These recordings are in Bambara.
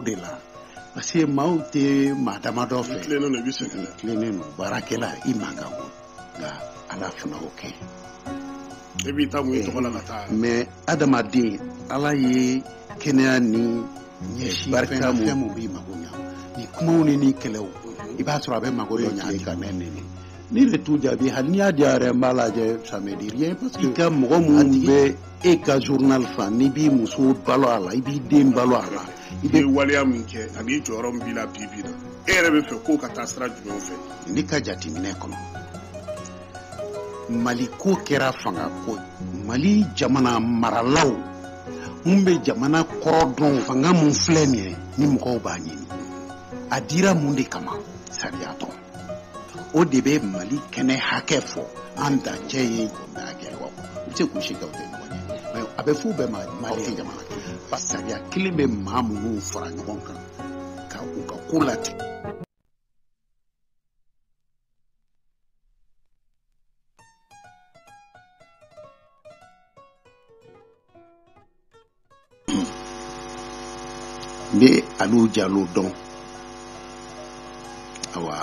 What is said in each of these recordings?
de la parce que maaw tɛ maa damadɔ fɛ tilennen don i bɛ sɛgɛn la tilennen don baarakɛla i man kan ko nka ala fana o kɛ e b'i ta mun i tɔgɔ la ka taa mɛ adamaden ala ye kɛnɛya ni barika fɛn min b'i mago ɲa ni kumaw ni ni kɛlɛw i b'a sɔrɔ a bɛ mago dɔ ɲa ka mɛn nɛnɛ ni de t'u jaabi hali n'i y'a di a yɛrɛ n b'a lajɛ ça me dit rien parce que i ka mɔgɔ minnu bɛ e ka journal fan n'i b'i muso balo a la i b'i den balo a la i bɛ waleya min kɛ ani jɔyɔrɔ min b'i la bi bi la e yɛrɛ bɛ fɛ k'o ka taa sira jumɛn fɛ ne ka jateminɛ kɔnɔ mali ko kɛra fanga ko mali jamana maralaw mun bɛ jamana kɔrɔ dɔn fanga min filɛ nin ye ni mɔgɔw b'a ɲini a dira mun de kama sariya tɔ o de bɛ mali kɛnɛ hakɛ fɔ an dancɛ ye jamana kɛ wa u bɛ se k'u si kɛ u tɛ ɲɔgɔn ye mɛ a bɛ f'u bɛɛ ma mali tɛ jamana kɛ parce que sariya kelen bɛ maa minnu fara ɲɔgɔn kan ka u ka ko latigɛ n tɛ aliw jalo dɔn awa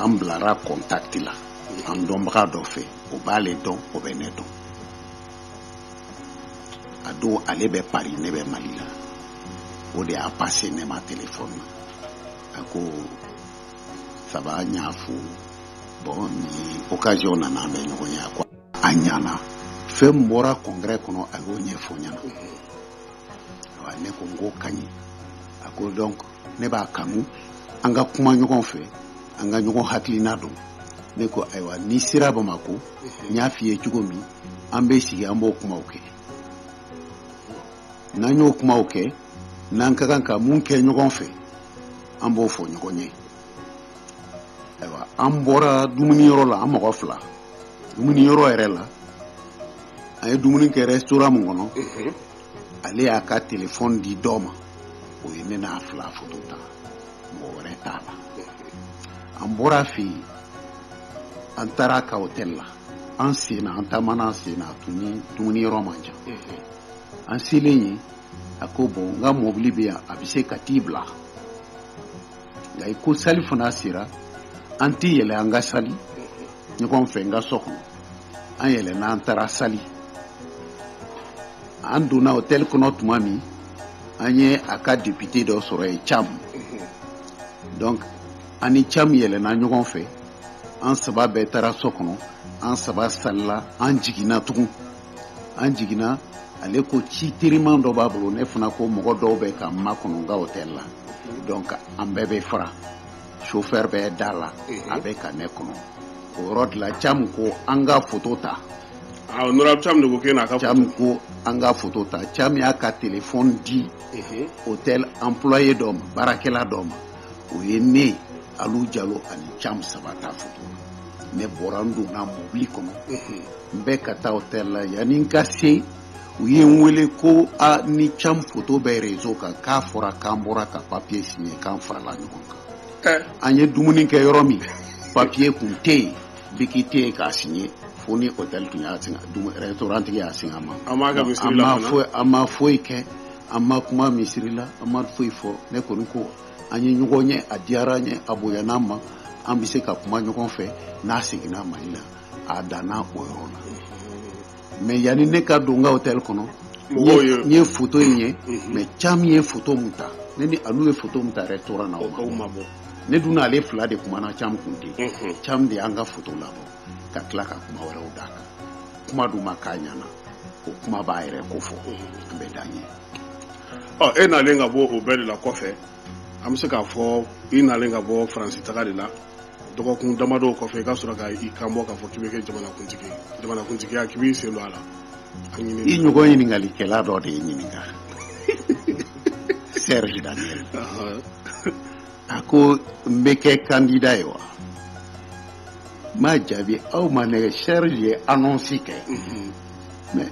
an bilara kɔntakiti la an dɔnbaga dɔ fɛ o b'ale dɔn o bɛ ne dɔn a don ale bɛ pari ne bɛ mali la o de y'a pase ne ma telefɔni na a ko ça va n y'a fo bɔn ni okaziyɔn nana an bɛ ɲɔgɔn ye a ko a ɲana fɛn min bɔra kɔngɛrɛ kɔnɔ a y'o ɲɛfɔ n ɲɛna wa ne ko n k'o ka ɲi a ko dɔnk ne b'a kanu an ka kuma ɲɔgɔn fɛ an ka ɲɔgɔn hakilina dɔn ne ko ayiwa n'i sera bamako n y'a f'i ye cogo min an bɛ sigi an b'o kumaw kɛ n'an y'o kumaw kɛ n'an ka kan ka mun kɛ ɲɔgɔn fɛ an b'o fɔ ɲɔgɔn ye ayiwa an bɔra dumuni yɔrɔ la an mɔgɔ fila dumuni yɔrɔ yɛrɛ la an ye dumuni kɛ rɛsitoran min kɔnɔ ale y'a ka telefɔni di dɔ ma o ye ne n'a fila foto ta mɔgɔ wɛrɛ t'a la an bɔra fɛ yen an taara a ka hotɛli la an senna an taamana an senna a tun ni dumuni yɔrɔ man jan an selen yen a ko bɔn n ka mɔbili bɛ yan a bɛ se ka t'i bila nka i ko sali fana sera an tɛ yɛlɛn an ka sali ɲɔgɔn fɛ n ka so kɔnɔ an yɛlɛnna an taara sali an donna hôtel kɔnɔ tuma min an ye a ka député dɔ sɔrɔ yen cam donc an ni cam yɛlɛnna ɲɔgɔn fɛ an saba bɛɛ taara so kɔnɔ an saba salila an jiginna tugun an jiginna ale ko ci teriman dɔ b'a bolo ne fana ko mɔgɔ dɔw bɛ ka n makɔnɔ n ka hôtel la donc an bɛɛ bɛ fara chauffeur bɛ da la a bɛ ka ne kɔnɔ o yɔrɔ de la Cam ko an ka photo ta ah, honorable Cam de ko k'e n'a ka Cam ko an ka photo ta Cam y'a ka téléphone di hôtel employé dɔ ma baarakɛla dɔ ma o ye ne Alu Jalo ani Cam saba ta photo ne bɔra n donna mobili kɔnɔ n bɛ ka taa hôtel la yanni n ka se u ye n wele ko a ni cam foto bɛ rezo kan k'a fɔra k'an bɔra ka papiye siɲɛ k'an farala ɲɔgɔn kan an ye dumuni kɛ yɔrɔ min papiye kun tɛ yen biki tɛ yen k'a siɲɛ fo ni hôtel tun y'a singa restaurantigi y'a singa an ma an ma foyi kɛ an ma kuma misiri la an ma foyi fɔ ne kɔni ko an ye ɲɔgɔn ye a diyara n ye a bonyana n ma an bɛ se ka kuma ɲɔgɔn fɛ n'a seginna mali la a danna o yɔrɔ la mais yanni ne ka don n ka hôtel kɔnɔ n ye foto in ye mhm. mais cam ye foto min ta ne ni alu ye foto min ta restaurant na o ma bɔ ne dun n'ale fila de kumana cam kun tɛ yen mhm. cam de y'an ka foto labɔ ka tila ka kuma wɛrɛw d'a kan kuma dun ma k'a ɲɛna o kuma b'a yɛrɛ ko fɔ mhm. an bɛ dan yen ɔ e nalen ka bɔ o bɛɛ de la kɔfɛ an bɛ se k'a fɔ i nalen ka bɔ faransi taga de la dɔgɔkun damadɔw kɔfɛ i ka sɔrɔ ka i kan bɔ k'a fɔ k'i bɛ kɛ jamanakuntigi ye jamanakuntigiya k'i b'i sen don a la i ɲɔgɔn ɲininkalikɛla dɔ de ye n ɲininka serge daniel a ko n bɛ kɛ kandida ye wa n m'a jaabi aw ma nɛgɛ serge ye annonce kɛ mais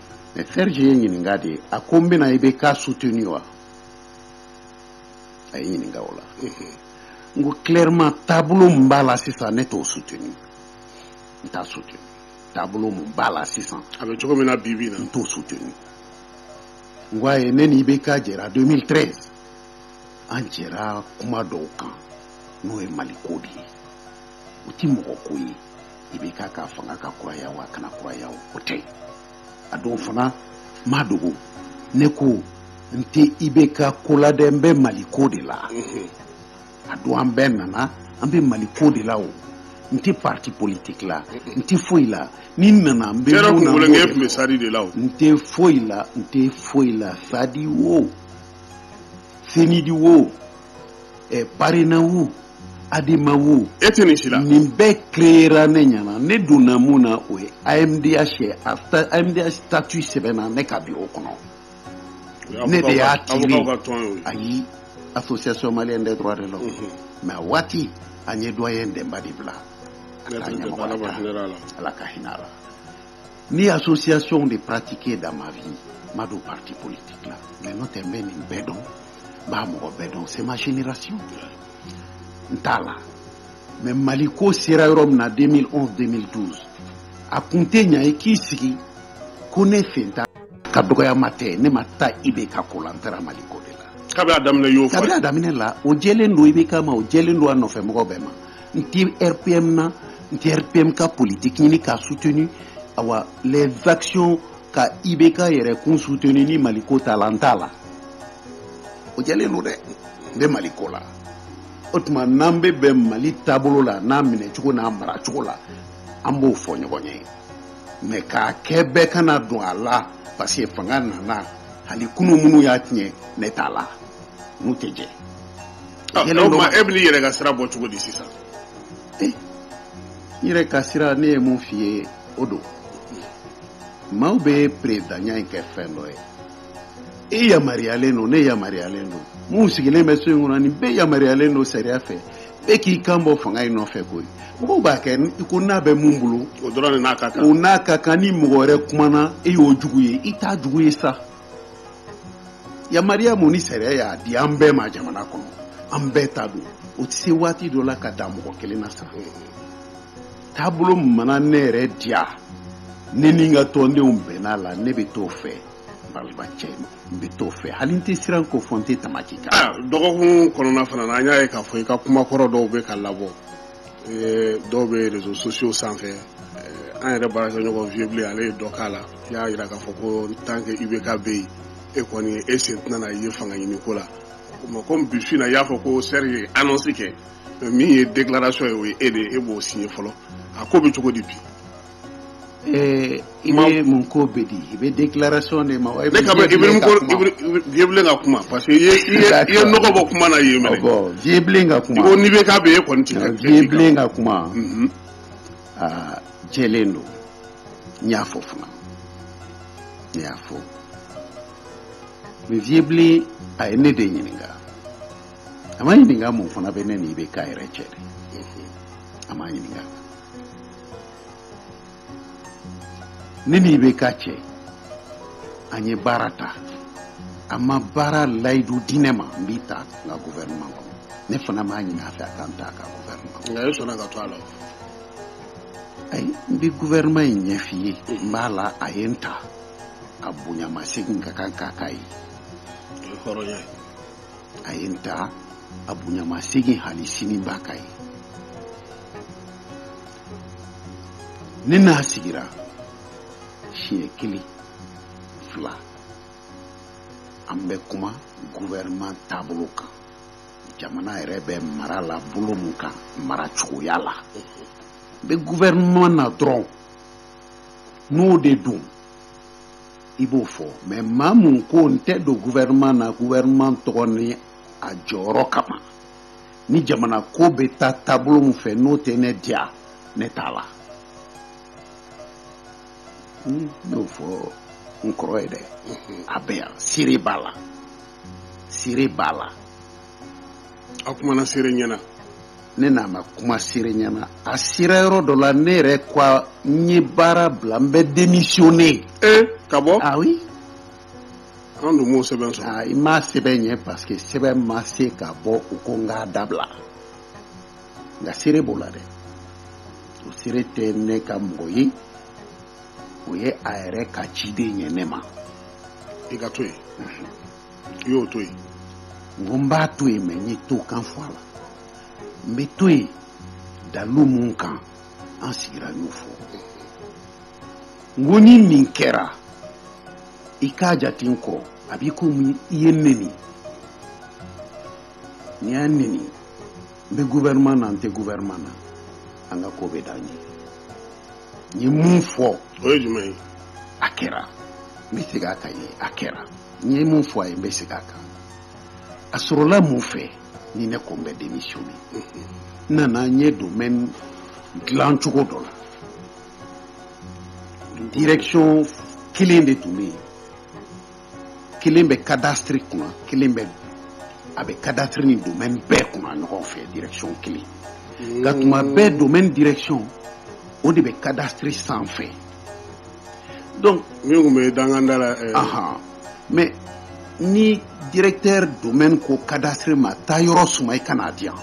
mais serge ye n ɲininka di a ko n bɛna IBK suteni wa a ye n ɲininka o la n ko clairement taabolo min b'a la sisan ne t'o suteni n t'a suteni taabolo min b'a la sisan a bɛ cogo min na bi bi na n t'o suteni n ko a ye ne ni IBK jɛra 2013 an jɛra kuma dɔw kan n'o ye maliko de ye o tɛ mɔgɔ ko ye IBK ka fanga ka kuraya o a kana kuraya o o tɛ a don fana n m'a dogo ne ko n tɛ IBK ko la dɛ n bɛ mali ko de la a don an bɛɛ nana an bɛ mali ko de la o n tɛ parti politique la n tɛ foyi la ni n nana n bɛ Yɔrɔ mun na n b'o kunkolonkɛ de tun bɛ fɔ. sadi de la o n tɛ foyi la n tɛ foyi la sadi wo cnid wo eh, parena wo Adamabu e tɛ nin si la nin bɛɛ kera ne ɲɛna ne donna mun na o ye amimudenya sɛ a amimiya tatu sɛbɛn na ne ka bi o kɔnɔ ne de y'a ti ayi a fɔ se soma de la mɛ waati an ye dɔgɔ ye denba de bila ala ka hinɛ la Ni association de pratiquer dans ma vie n ma don parti politique la mais n'o tɛ n bɛ nin bɛɛ dɔn n b'a mɔgɔ bɛɛ dɔn c'est ma génération n t'a la mais mali ko sera yɔrɔ min na 2011 2012 a kun tɛ ɲa i k'i sigi ko ne sen t'a ka dɔgɔya ma tɛ ne ma taa ibk ko la n taara mali ko de la kabini a daminɛ n y'o fɔ kabini a daminɛ la o jɛlen don ibk ma o jɛlen don a nɔfɛ mɔgɔ bɛɛ ma n tɛ rpm na n tɛ rpm ka politiki ɲini k'a suteni awa les actions ka ibk yɛrɛkun suteni ni mali ko t'a la n t'a la o jɛlen don dɛ n bɛ mali ko la o tuma n'an bɛ bɛn mali taabolo la n'a minɛ cogo n'a mara cogo la an b'o fɔ ɲɔgɔn ye mais k'a kɛ bɛɛ kana don a la parce que fanga nana hali kunu minnu y'a tiɲɛ ne t'a la n'u tɛ jɛ Ah, Yɛlɛ o don. tuma e bɛn'i yɛrɛ ka sira bɔ cogo di sisan n yɛrɛ ka sira ne ye mun f'i ye o don maaw bɛ peresidanya in kɛ fɛn dɔ ye i yamaruyalen don ne yamaruyalen don minnu sigilen bɛ so in kɔnɔ nin bɛɛ yamaruyalen don sariya fɛ bɛɛ k'i kan bɔ fanga in nɔfɛ koyi mɔgɔw b'a kɛ i ko n'a bɛ mun bolo o dɔrɔn de n'a ka kan o n'a ka kan ni mɔgɔ wɛrɛ kumana e y'o jugu ye i t'a jugu ye sa yamaruya mun ni sariya y'a di an bɛɛ ma jamana kɔnɔ an bɛɛ ta don o tɛ se waati dɔ la ka dan mɔgɔ kelen na sa taabolo mana ne yɛrɛ diya ne ni n ka tɔndenw bɛnna a la ne bɛ t'o fɛ balimacɛ n bɛ t'o fɛ hali n tɛ siran k'o fɔ n tɛ tamaki kan dɔgɔkun kɔnɔna fana na an y'a ye k'a fɔ i ka kuma kɔrɔ dɔw bɛ ka labɔ dɔw bɛ réseaux sociaux sanfɛ an yɛrɛ baarakɛɲɔgɔn Vieux Blen ale ye dɔ k'a la i y'a jira k'a fɔ ko tant que ibk bɛ yen e kɔni e sen tɛna ye fanga ɲini ko la o ko bifin i y'a fɔ ko seri ye annonce kɛ min ye déclaration ye o ye e de ye e b'o si ye fɔlɔ a ko bɛ cogo di bi Ɛɛ i bɛ mun ko bɛ di i bɛ déclaration de ma wa Vieux Blen ka kuma parce que ye bɔ kuma na Vieux Blen ka kuma ko n'ibk bɛ yen kɔni Vieux Blen ka kuma aa jɛlen don n y'a fɔ fana n y'a fɔ mais Vieux Blen a ye ne de ɲininka a ma ɲininka mun fana bɛ ne ni ibk yɛrɛ cɛ dɛ a ma ɲininka ne ni IBK cɛ an ye baara ta a ma baara layidu di ne ma n b'i ta n ka gouvernement kɔnɔ ne fana m'a ɲini a fɛ a ka n ta a ka gouvernement kɔnɔ. nka e sɔnna ka to a la. ayi n bɛ gouvernement in ɲɛf'i ye n b'a la a ye n ta a bonya masegin ka kan k'a k'a ye. o ye hɔrɔnya ye. a ye n ta a bonya masegin hali sini n b'a k'a ye. ne n'a sigira siɲɛ kelen fila an bɛ kuma guvɛrɛman taabolo kan jamana yɛrɛ bɛ mara la bolo min kan mara cogoya la n bɛ guvɛrɛman na dɔrɔn n'o de don i b'o fɔ mɛ maa min ko n tɛ don guvɛrɛman na guvɛrɛman tɔgɔ ni a jɔyɔrɔ kama ni jamana ko bɛ taa taabolo min fɛ n'o tɛ ne diya ne t'a la n y'o fɔ n kɔrɔ ye dɛ a bɛ yan seere b'a la seere b'a la a kumana seere ɲɛna ne n'a ma kuma seere ɲɛna a sera yɔrɔ dɔ la ne yɛrɛ ko n ye baara bila n bɛ démissionner ka bɔ ah oui an dun m'o sɛbɛn sɔrɔ ah, i m'a sɛbɛn ye paseke sɛbɛn ma se ka bɔ u ko n k'a dabila nka seere b'o la dɛ o seere tɛ ne ka mɔgɔ ye o ye a yɛrɛ ka ciden ye ne ma i ka to yen i y'o to yen n ko n b'a to yen mɛ n ye to kan fɔ a la n bɛ to yen dalu mun kan an sigira n y'o fɔ n ko ni nin kɛra i k'a jate ko a b'i komi i ye n neni n'i y'a neni n bɛ guvɛrɛman na n tɛ guvɛrɛman na an ka ko bɛ dan yen n ye mun fɔ o ye jumɛn ye a kɛra n bɛ segin a kan ye a kɛra n ye mun fɔ a ye n bɛ segin a kan a sɔrɔla mun fɛ ni ne ko n bɛ démissionner n nana n ye domaine dilan cogo dɔ la direction kelen de tun bɛ yen kelen bɛ cadastre kunna kelen bɛ a bɛ cadastre ni domaine bɛɛ kunna ɲɔgɔn fɛ direction kelen nka tuma bɛɛ domaine direction o de bɛ cadastre sanfɛ donc min tun bɛ danganda la ɛɛ ahan mais ni directeur domaine ko cadastre ma taa yɔrɔ suma i kan'a di yan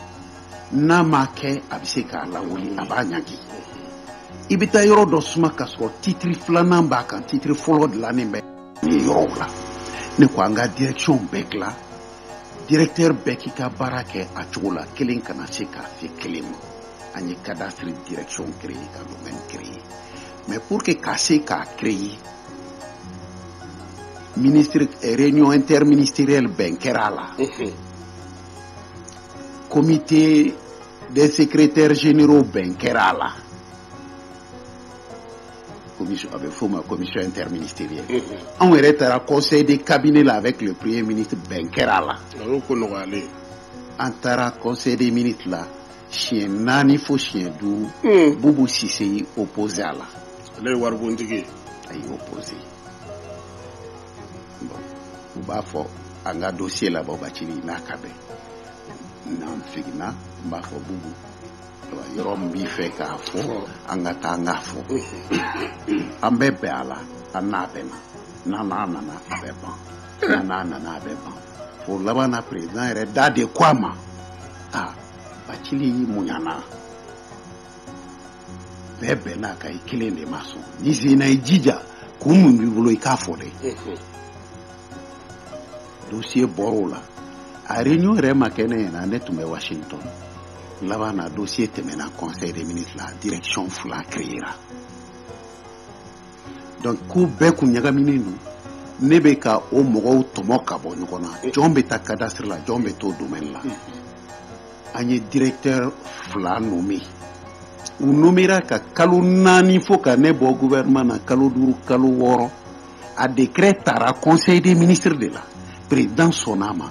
n'a m'a kɛ a bɛ se k'a lawuli a b'a ɲangi i bɛ taa yɔrɔ dɔ suma ka sɔrɔ titiri filanan b'a kan titiri fɔlɔ dilannen bɛ ni yɔrɔw la ne ko an ka direction bɛɛ dilan directeur bɛɛ k'i ka baara kɛ a cogo la kelen kana se ka se kelen ma an ye cadastre direction créer ka domaine créer mais pour que ka se k'a créer ministre eh, réunion interministérielle bɛn kɛra a la comité des secrétaires généraux bɛn kɛra a la commission a bɛ f'o ma commission interministérielle anw yɛrɛ taara conseil de cabinet la avec le premier ministre bɛn kɛra a la a y'o ko nɔgɔyalen ye an taara conseil des ministres la siɲɛ naani fo siɲɛ duuru Mm. Bubu Sise y'i opposé a la ale ye waribontigi ye a y'i opposé u b'a fɔ an ka dossier labɔ Bacili n'a ka bɛn n'an seginna n b'a fɔ Bubu yɔrɔ min b'i fɛ k'a fɔ an ka taa an k'a fɔ an bɛ bɛn a la an n'a bɛnna n'an n'a nana a bɛ ban n'an n'a nana a bɛ ban fo laban na président yɛrɛ da de ko a ma a Bacili muɲana bɛɛ bɛnn'a kan i kelen de ma sɔn n'i senna i jija kun min b'i bolo i k'a fɔ dɛ dossier bɔr'o la a réunion yɛrɛ ma kɛ ne ɲɛ na ne tun bɛ Washington laban na dossier tɛmɛna conseil des ministres la direction fila créera donc k'u bɛɛ kun ɲagaminen don ne bɛ ka o mɔgɔw tɔmɔ ka bɔ ɲɔgɔn na jɔn bɛ taa cadastre la jɔn bɛ to domaine la an ye directeur fila nommé u nomméra ka kalo naani fo ka ne bɔ gouvernement na kalo duuru kalo wɔɔrɔ a décret taara conseil des ministres de la président sɔnna a ma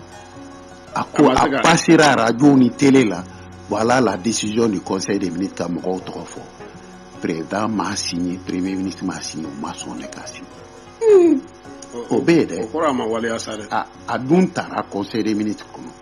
a ko a passéra arajo ni télé la voilà la décision du conseil des ministres ka mɔgɔw tɔgɔ fɔ président m'a signé premier ministre m'a signé u ma sɔn ne k'a signé o bɛ yen dɛ o kɔrɔ a ma waleya sa dɛ a dun taara conseil des ministres kɔnɔ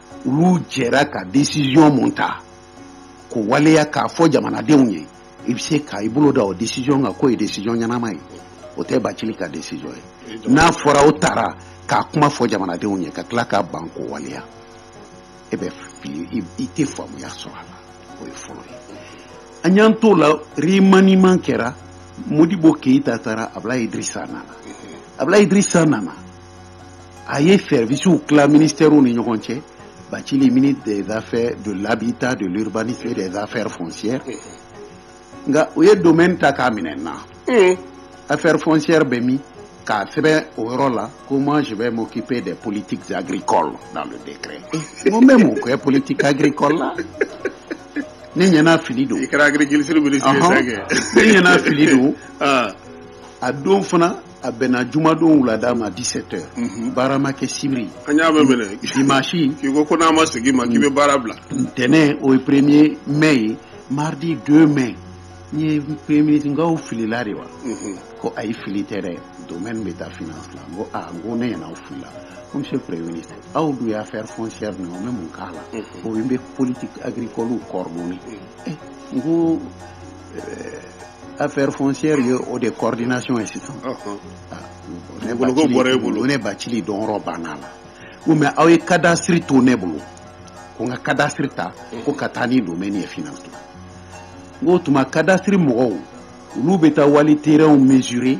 olu jɛra ka décision mun ta k'o waleya k'a fɔ jamanadenw ye i bɛ se ka i bolo da o décision kan k'o ye décision ɲɛnama ye o tɛ Bacili ka décision ye n'a fɔra o taara k'a kuma fɔ jamanadenw ye ka tila ka ban k'o waleya e bɛ fili i tɛ faamuya sɔrɔ a la o ye fɔlɔ ye an y'an t'o la remaniement kɛra Modibo Keyita taara Abulayi Idirisa nana Abulayi Idirisa nana a ye sɛrisiww tila minirw ni ɲɔgɔn cɛ ba ci mini dezfɛ don labi ta don bani fɛ dezfɛ fsi nka u ye don ta k'a minɛ na a fɛ fsi bɛ min k'a sɛbɛn o yɔrɔ la ko ma si bɛ mo k'ip de politiri kɔ la de mun bɛ mun kɛ politiri kɔ la ne ɲɛna fili don i kɛra fili don a don fana a bɛnna jumadon wulada ma dix-sept heures baara ma kɛ sibiri an y'a bɛ minɛ dimanche k'i ko ko n'a ma sigi ma k'i bɛ baara bila ntɛnɛn o ye premier mai ye mardi deux mai n ye premier ministre n ko aw filila de wa ko ayi fili tɛ dɛ domaine bɛ taa finance la n ko aa n ko ne ɲɛna aw filila ko monsieur le premier ministre aw dun ye affaire foncière nin ye o bɛ mun k'a la o ye n bɛ politique agricole coordonner n ko affaire foncière ye o de coordination ye sisan ne bolo bɔra bolo ne bacili dɔrɔn banna la u mais aw ye cadastre to ne bolo ko n ka cadastre ta ko ka taa ni domaine ye finance o tuma cadastre mɔgɔw olu bɛ taa wali taw mesurer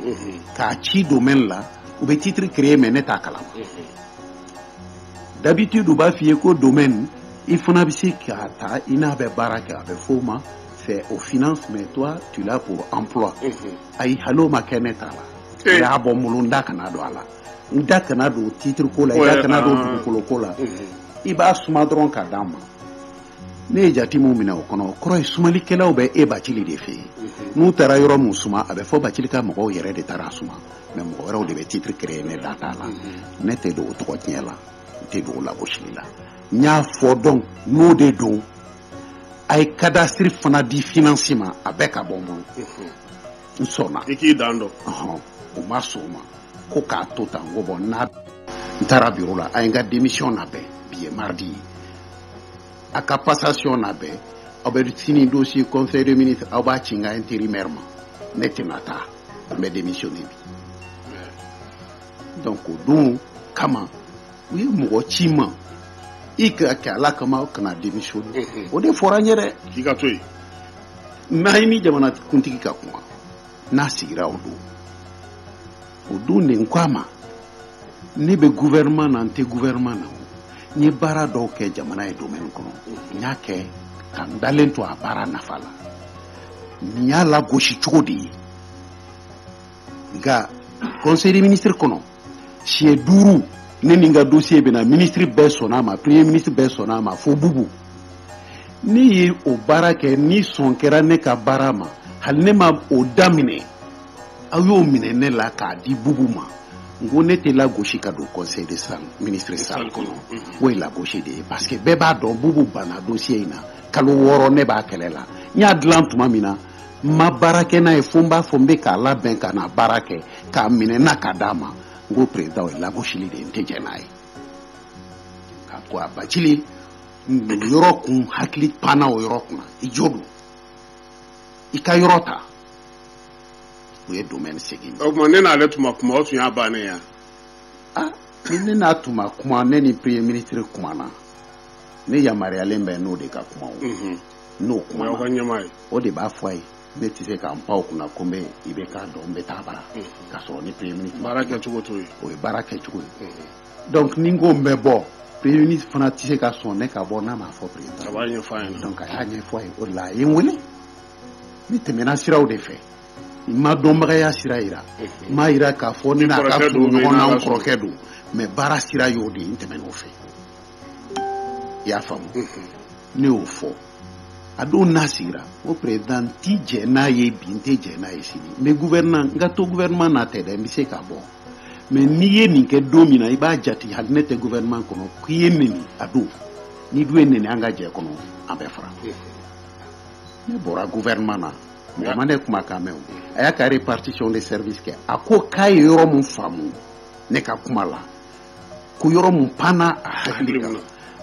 k'a ci domaine la u bɛ titre créer mais ne t'a kalama d'habitude u b'a f'i ye ko domaine i fana bɛ se k'a ta i n'a bɛ baara kɛ a bɛ fɔ o ma c'est aux finances, mais toi, tu l'as pour emploi. Mhm. Ayi, hali o ma kɛ ne ta la. Eh. Y'a bɔ n bolo n da kana don a la. N da kana don titre ko la, n da kana don ah. dukolo ko la. Mhm. I b'a suma dɔrɔn ka d'a ma. Ne ye jatimu minɛ o kɔnɔ, o kɔrɔ ye sumalikɛlaw bɛ e bacili de fɛ yen. Mhm. N'u taara yɔrɔ min suma, a bɛ fɔ bacili ka mɔgɔw yɛrɛ de taara suma. Mais mɔgɔ wɛrɛw de bɛ titre créer ne da t'a la. Ne tɛ don o tɔgɔ tiɲɛ la, n tɛ don o lagosili la. N y'a fɔ donc, n'o de don, a ye cadastre fana di finance ma a bɛɛ ka bɔ n bolo n sɔnna i k'i dan dɔn ɔhɔn o ma sɔn o ma ko k'a to tan n ko bon n taara biro la a ye n ka démission labɛn bi ye mardi ye a ka passation labɛn aw bɛ sini dossier conseil de ministre aw b'a ci n ka intérimaire ma ne tɛna taa n bɛ démissionner bi donc o don kama u ye mɔgɔ ci n ma i k'a kɛ ala kama kana démissionner o de fɔra n yɛrɛ k'i ka to yen i ni jamana kuntigi ka kuma n'a sigira o don o don de n ko a ma ne bɛ gouvernement na n tɛ gouvernement na n ye baara dɔw kɛ jamana ye domaine kɔnɔ n y'a kɛ ka n dalen to a baara nafa la nin y'a lagosi cogo de ye nka conseil des ministres kɔnɔ siɲɛ duuru ne ni n ka dosiye bɛ na minisiri bɛɛ sɔnna a ma premier ministre bɛɛ sɔnna a ma fo bubu ne ye o baara kɛ ni sɔn kɛra ne ka baara ma hali ne ma o daminɛ a y'o minɛ ne la k'a di bubu ma n ko ne tɛ lagosi ka don conseil de salle ministre salle kɔnɔ mhm. o ye lagosi de ye parce que bɛɛ b'a dɔn bubu banna dosiye in na kalo wɔɔrɔ ne b'a kɛlɛ la n y'a dilan tuma min na ma baara kɛ n'a ye fo n b'a fɔ n bɛ k'a labɛn ka na baara kɛ k'a minɛ n na k'a d'a ma n ko perezidan o ye lagosili de ye n tɛ jɛn n'a ye a ko a bacili o yɔrɔ ko n hakili panna o yɔrɔ kunna i jo don i ka yɔrɔ ta o ye domaine segin o tuma ne n'ale tun ma kuma o tun y'a bannen ye ah ni ne n'a tun ma kuma ne ni premier ministre kumana ne yamaruyalen bɛ n'o de ka kuma o n'o kuma aw ka ɲɛmaa ye o de b'a fɔ a ye ne tɛ se ka pan o kunna ko n bɛ i bɛ k'a dɔn n bɛ taa a bara ka sɔrɔ ni premier ministre baara kɛcogo t'o ye o ye baara kɛcogo ye donc ni n ko n bɛ bɔ premier ministre fana tɛ se ka sɔn ne ka bɔ n'a m'a fɔ président a b'a ɲɛfɔ a ɲɛna donc a y'a ɲɛfɔ a ye o de la a ye n wele ne tɛmɛna sira de fɛ n ma dɔnbagaya sira yira n m'a yira k'a fɔ ne n'a ka surun ɲɔgɔn na n kɔrɔkɛ don mais baara sira y'o de ye n tɛmɛn'o fɛ i y'a faamu ne y'o fɔ a don n'a sigira n ko perezidan n tɛ jɛn n'a ye bi n tɛ jɛn n'a ye sini n bɛ gouvernement n ka to gouvernement na tɛ dɛ n bɛ se ka bɔ mais n'i ye nin kɛ don min na i b'a jate hali ne tɛ gouvernement kɔnɔ k'i ye n neni a don n'i dun ye n neni an ka jɛ kɔnɔ an bɛ fara ne bɔra gouvernement na mɔgɔ ma ne kuma kan mɛn o a y'a ka répartition des services kɛ a ko k'a ye yɔrɔ min faamu ne ka kuma la ko yɔrɔ min panna a hakili kan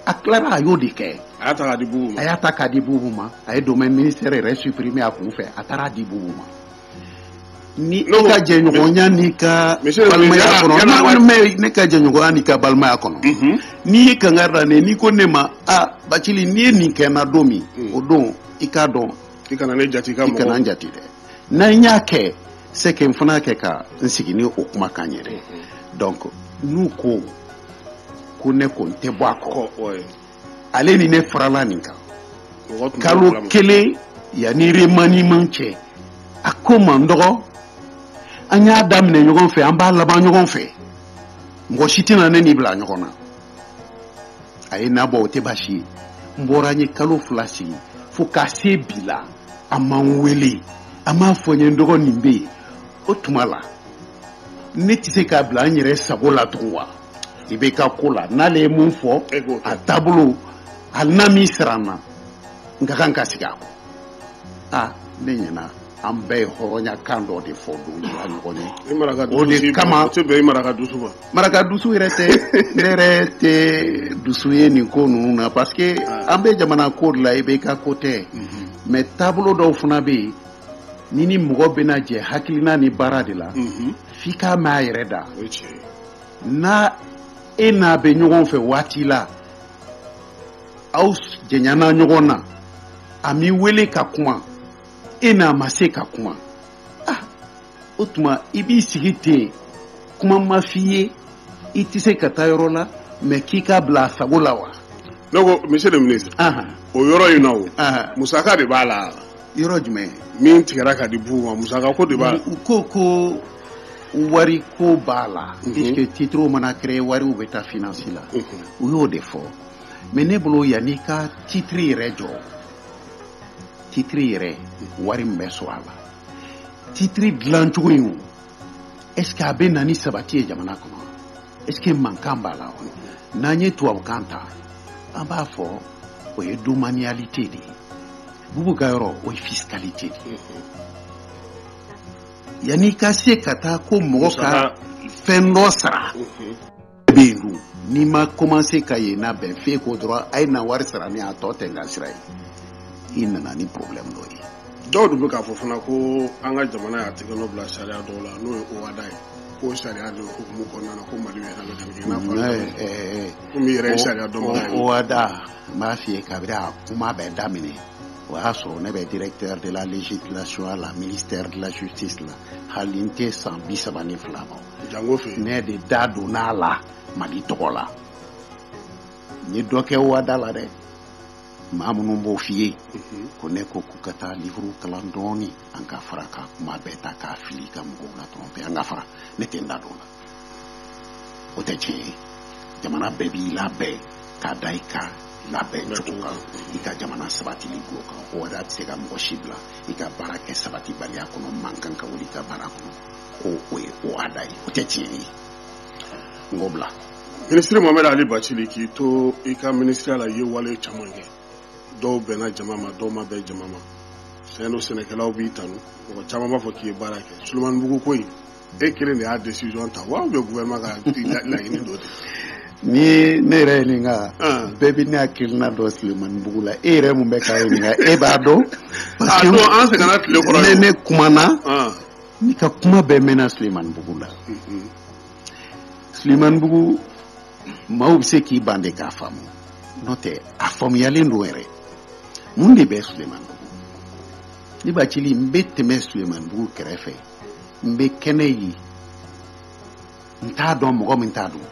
a tilala a y'o de kɛ a y'a ta k'a di bubu ma a y'a ta k'a di bubu ma a ye domaine ministère yɛrɛ supprimer a kun fɛ a taara a di bubu ma ni i ka jɛɲɔgɔnya n'i ka balimaya kɔnɔ ne ka jɛɲɔgɔnya n'i ka balimaya kɔnɔ n'i ye kangari da ne n'i ko ne ma a bacili n'i ye nin kɛ n na don min o don i k'a dɔn i kana ne jate i ka mɔgɔ i kana n jate dɛ n'an y'a kɛ c'est que n fana kɛ ka n sigi ni o kuma kan ye dɛ donc n'u ko ko ne ko n tɛ bɔ a kɔ ale ni ne farala nin kan kalo kelen yanni remaniement cɛ a ko n ma n dɔgɔ an y'a daminɛ ɲɔgɔn fɛ an b'a laban ɲɔgɔn fɛ mɔgɔ si tɛna ne n'i bila ɲɔgɔn na a ye n nabɔ o tɛ baasi ye n bɔra n ye kalo fila sigi fo ka se bi la a ma n wele a m'a fɔ n ye n dɔgɔ nin bɛ yen o tuma la ne tɛ se k'a bila n yɛrɛ sago la tugun wa i bɛ ka ko la n'ale ye min fɔ a taabolo hali n'a m'i sara n na n ka kan ka sigi a kɔ aa ne ɲɛna an bɛɛ ye hɔrɔnya kan dɔ de fɔ don jira ɲɔgɔn ye o de kama maraka dusu ma maraka dusu yɛrɛ tɛ ne yɛrɛ tɛ dusu ye nin ko ninnu na parce que ah. an bɛ jamana ko de la i bɛ ka ko tɛ mais mhm. taabolo dɔw fana bɛ yen ni ni mɔgɔ bɛna jɛ hakilina ni baara de la mhm. f'i k'a mɛn a yɛrɛ da n'a e n'a bɛ ɲɔgɔn fɛ waati la aw janyana ɲɔgɔn na a m'i wele ka kuma e n'a ma se ka kuma ah o tuma i b'i sigi ten kuma ma f'i ye i tɛ se ka taa yɔrɔ la mais k'i k'a bila a sago la wa ne ko monsieur le ministre o yɔrɔ in na o musaka de b'a la yɔrɔ jumɛn min tigɛra ka di bubu ma musaka ko de b'a la u ko ko wari ko b'a la mhm. puisque titre mana créer wariw bɛ taa finance la mhm. u y'o de fɔ mais ne bolo yanni ka titre yɛrɛ jɔ titiri yɛrɛ wari min bɛ sɔrɔ a la titiri dilancogo in o est ce que a bɛ na ni sabati ye jamana kɔnɔ est ce que mankan b'a la wa n'an ye tubabukan ta an b'a fɔ o ye domanialité de ye bubu ka yɔrɔ o ye fiscalité de ye yanni i ka se ka taa ko mɔgɔ ka fɛn dɔ sara bɛ yen dun n'i ma commencé ka yen labɛn f'e ko dɔrɔn a ye na wari sara ni a tɔ tɛ n ka sira ye i nana ni problème dɔ ye dɔw de bɛ k'a fɔ fana ko an ka jamana y'a tɛgɛnɔ bila sariya dɔw la n'o ye ohada ye k'o sariya de hukumu kɔnɔna na ko mali yɛrɛ bɛ ka nin kɛ i n'a fɔ komi i yɛrɛ ye sariya dɔnbaga ye ohada n b'a f'i ye kabiri a kuma bɛɛ daminɛ o y'a sɔrɔ ne bɛ directeur de la législation la ministère de la justice la hali n tɛ san bi saba ni fila ma jango fɛ ne de da donna a la mali tɔgɔ la n ye dɔ kɛ ohada la dɛ maa minnu b'o f'i ye mhm. ko ne ko k'u ka taa livre kalan dɔɔni an ka fara ka kuma bɛɛ ta k'a fili ka mɔgɔw la tromper an ka fara ne tɛ n da don a la o tɛ tiɲɛ ye jamana bɛɛ b'i labɛn k'a da i ka labɛn cogo kan i ka jamana sabatili ko kan ohada tɛ se ka mɔgɔ si bila i ka baara kɛ sabatibaliya kɔnɔ mankan ka wuli i ka baara kɔnɔ ko o ye ohada ye o tɛ tiɲɛ ye n k'o bila minisiri mohamed ali bacili k'i to i ka minisiriya la i ye wale caman kɛ dɔw bɛnna jama ma dɔw ma bɛn jama ma sango sɛnɛkɛlaw b'i tanu mɔgɔ caman b'a fɔ k'i ye baara kɛ sulemanibugu ko in e kelen de y'a decision ta ou bien gouvernement ka laɲini dɔ de ni ne yɛrɛ ɲininka bɛɛ bɛ ne hakilina dɔn sulemanibugu la e yɛrɛ min bɛ k'a ɲininka e b'a dɔn parce que an sɛgɛnna tile kɔrɔ ne kumana ne ka kuma bɛɛ mɛnna sulemanibugu la sulemanibugu maaw bɛ se k'i ban de k'a faamu n'o tɛ a faamuyalen don yɛrɛ mun de bɛ sulemanibugu ne bacili n bɛ tɛmɛ sulemanibugu kɛrɛfɛ n bɛ kɛnɛ ye n t'a dɔn mɔgɔ min ta don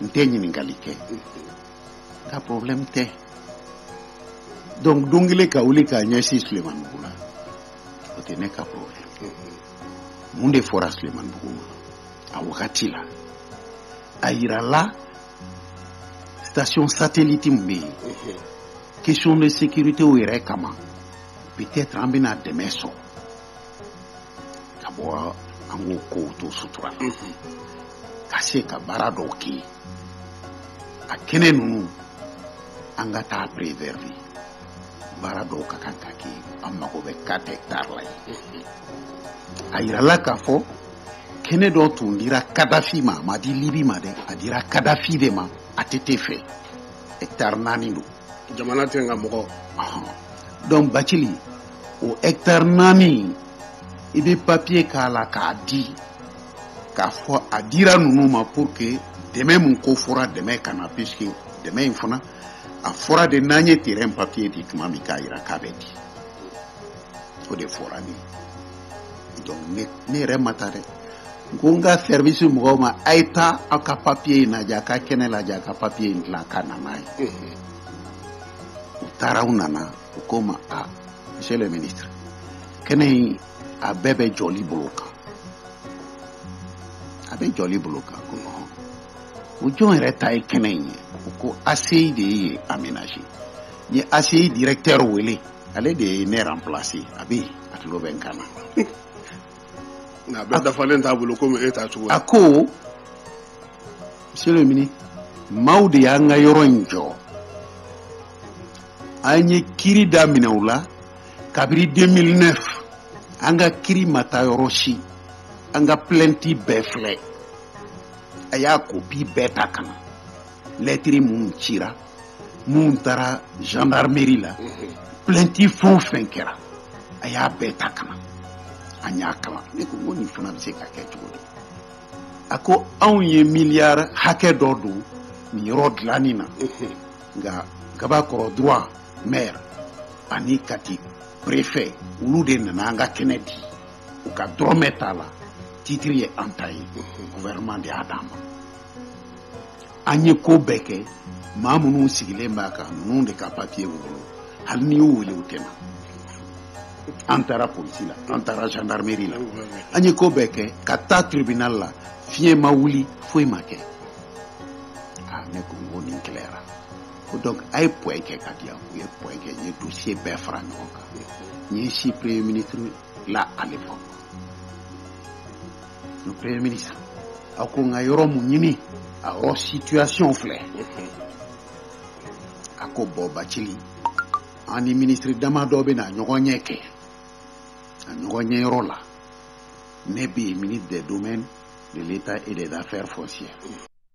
n tɛ ɲininkali kɛ n ka problème tɛ donc don kelen ka wuli k'a ɲɛsin sulemanibugu la o tɛ ne ka problème mun de fɔra sulemanibugu ma a wagati la a yirala station satellite min bɛ yen question de sécurité o yɛrɛ kama peut-être an bɛna dɛmɛ sɔrɔ ka bɔ an k'o kow to sutura la ka se ka baara dɔw kɛ yen a kɛnɛ ninnu an ka taa préserver baara dɔw ka kan ka kɛ an mago bɛ quatre hectares la ye a yirala k'a fɔ kɛnɛ dɔ tun dira kadafi ma a ma di libi ma dɛ a dira kadafi de ma att fɛ hɛkitari naani don jamana tɛ nka mɔgɔ donc bacili o hɛkitari naani i bɛ papiye k'a la k'a di k'a fɔ a dira ninnu ma pour que dɛmɛ min ko fɔra dɛmɛ ka na puisque dɛmɛ in fana a fɔra de n'an ye terrain papier di tuma min k'a jira k'a bɛ di o de fɔra ne ye donc ne ne yɛrɛ ma taa dɛ n ko n ka service mɔgɔw ma a ye taa aw ka papier in lajɛ a ka kɛnɛ lajɛ a ka papier in dilan ka na n'a ye u taara u nana u ko n ma a monsieur le ministre kɛnɛ in a bɛɛ bɛ jɔli bolo kan a bɛ jɔli bolo kan ko non o jɔn yɛrɛ ta ye kɛnɛ in ye u ko aci de y'a aménager n ye aci directeur wele ale de ye ne remplacer a bɛ yen a tulo bɛ n kan na nka a bɛɛ dafalen t'a bolo komi e ta cogo a ko monsieur le ministre maaw de y'an ka yɔrɔ in jɔ an ye kiri daminɛ u la kabiri 2009 an ka kiri ma taa yɔrɔ si an ka plainte bɛɛ filɛ a y'a kopi bɛɛ ta ka na lɛtiri minnu cira minnu taara gendarmerie la plainti fɛn o fɛn kɛra a y'a bɛɛ ta ka na an y'a kalan ne ko n ko nin fana bɛ se ka kɛ cogo di a ko anw ye miliyari hakɛ dɔ don nin yɔrɔ dilanni na nka gabakɔrɔ droit maire ani kati préfet olu de nana an ka kɛnɛ di u ka dɔrɔmɛ t'a la titiri ye an ta ye gouvernement de y'a d'an ma an ye ko bɛɛ kɛ maa minnu sigilen b'a kan ninnu de ka papiye b'u bolo hali n'i y'u wele u tɛ na an taara polisi la an taara gendarmerie la an ye ko bɛɛ kɛ ka taa tribunal la fiɲɛ ma wuli foyi ma kɛ aa ne ko n ko nin gɛlɛyara ko donc a ye pɔɛ kɛ k'a di yan u ye pɔɛ kɛ n ye dossier bɛɛ fara ɲɔgɔn kan n y'i sin premier ministre la à l'époque le premier ministre a ko n ka yɔrɔ mun ɲini a yɔrɔ situation filɛ a ko bɔn bacili an ni minisiri dama dɔ bɛ na ɲɔgɔn ɲɛ kɛ a ɲɔgɔn ɲɛ yɔrɔ la ne bɛ yen ministre des domaines de l'état et des affaires foncières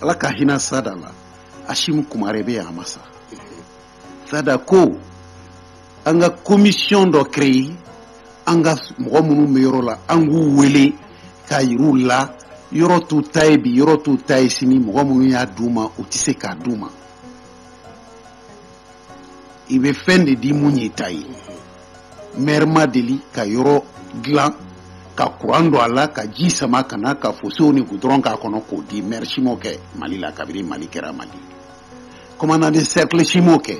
ala ka hinɛ sada la asimu kumare bɛ yan a ma sa sada ko an ka komisiyɔn dɔ kereye an ka mɔgɔ minnu bɛ yɔrɔ la an k'u wele k'a yir'u la yɔrɔ t'u ta ye bi yɔrɔ t'u ta ye sini mɔgɔ minnu y'a d'u ma u tɛ se k'a d'u ma i bɛ fɛn de di min y'i ta ye mɛri ma deli ka yɔrɔ dilan ka kuran don a la ka ji sama ka na ka fosew ni gudɔrɔn k'a kɔnɔ k'o di mɛri si m'o kɛ mali la kabini mali kɛra mali commandant de cercle si m'o kɛ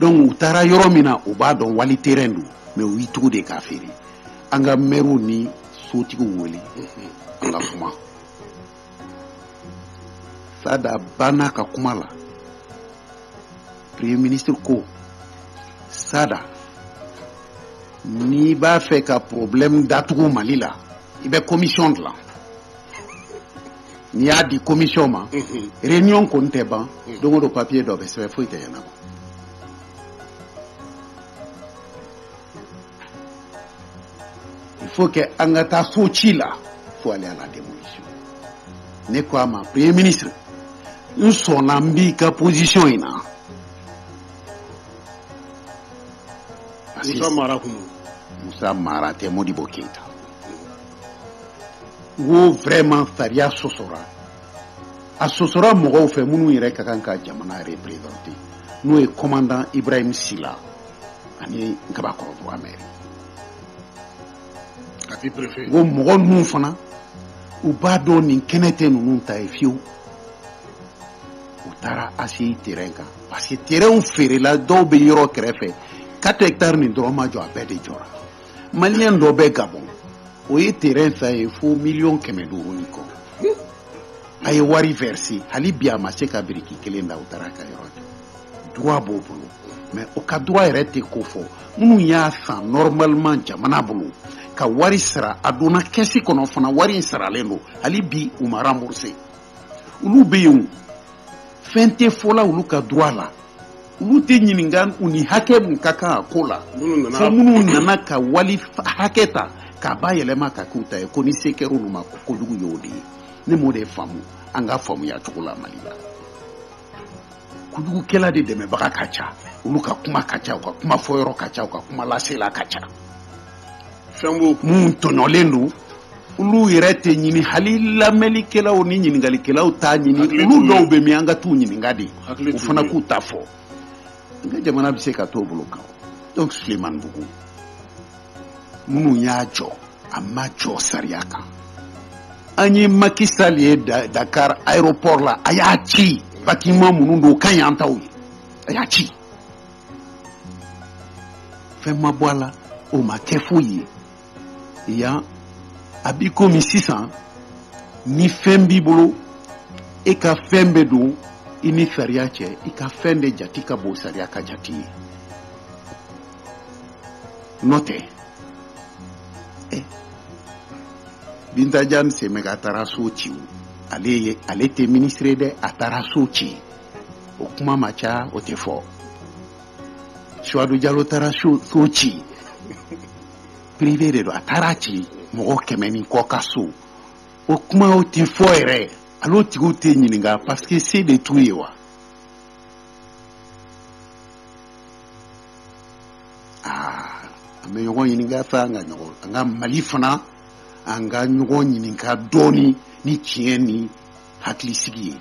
dɔnku u taara yɔrɔ min na u b'a dɔn wali terɛn don mɛ u y'i tugu de k'a feere an ka mɛriw ni sotigiw wele an ka kuma sada banna a ka kuma la premier ministre ko sada n'i b'a fɛ ka problème datugu mali la i bɛ commission dilan n'i y'a di commission ma mhm. réunion kɔni tɛ ban mhm. don o don papier dɔ bɛ sɛbɛn foyi tɛ ɲɛnabɔ il faut que an ka taa so ci la faut aller à la démolition ne ko a ma premier ministre n sɔnna n b'i ka position in na musa mara kun musa mara tɛ modibo keita n ko vraiment sariya sɔsɔra a sɔsɔra mɔgɔw fɛ minnu yɛrɛ ka kan ka jamana représenter n'o ye commandant ibrahim sila ani nkabakɔrɔ ka mɛri n ko mɔgɔ ninnu fana u b'a dɔn nin kɛnɛ tɛ ninnu ta ye fiyewu u taara aci terɛn kan parce que terɛnw feerela dɔw bɛ yɔrɔ kɛrɛfɛ quatre hectares nin dɔrɔn ma jɔ a bɛɛ de jɔra maliyɛn dɔ bɛ gabɔn o ye terɛn san yen fo miliyɔn kɛmɛ duuru ni kɔ a ye wari verser hali bi a ma se ka biriki kelen da u taara ka yɔrɔ jɔ droit b'o bolo mais o ka droit yɛrɛ tɛ kofɔ minnu y'a san normalement jamana bolo ka wari sara a donna kɛsi kɔnɔ fana wari in saralen don hali bi u ma rembourser olu bɛ yen fɛn tɛ fɔ la olu ka droit la olu tɛ ɲininka u ni hakɛ mun ka kan a ko la fo minnu nana ka wali hakɛ ta k'a bayɛlɛma k'a k'u ta ye ko ni se kɛra olu ma ko kojugu y'o de ye ne m'o de faamu an ka faamuya cogo la mali la kojugukɛla de dɛmɛbaga ka ca olu ka kuma ka ca u ka kuma fɔyɔrɔ ka ca u ka kuma lasela ka ca fɛn b'o minnu tɔɲɔlen don olu yɛrɛ tɛ ɲini hali lamɛnlikɛlaw ni ɲininkalikɛlaw t'a ɲini olu dɔw bɛ min an ka t'u ɲininka de u fana k'u ta fɔ an ka jamana bɛ se ka t'o bolo kan donc sulemanbugu minnu y'a jɔ a ma jɔ sariya kan an ye Macky Sall ye Dakar aéroport la a y'a ci bâtiment minnu don o ka ɲi an taw ye a y'a ci fɛn ma bɔ a la o ma kɛ foyi ye yan a b'i komi sisan ni fɛn b'i bolo e ka fɛn bɛ don i ni sariya cɛ i ka fɛn de jati ka bon sariya ka jati ye n'o tɛ eh, binta jan semega a taara so ci ale ye ale tɛ minisiri ye dɛ a taara so ci o kuma ma ca o tɛ fɔ suwadu jalo taara so so ci privé de don a taara ci mɔgɔ kɛmɛ ni kɔ ka so o kuma o tɛ fɔ yɛrɛ hal'o tigiw tɛ ɲininka parce que se de t'u ye wa an bɛ ɲɔgɔn ɲininka fɛ an ka ɲɔgɔn an ka mali fana an ka ɲɔgɔn ɲininka dɔɔnin ni tiɲɛ ni hakili sigi ye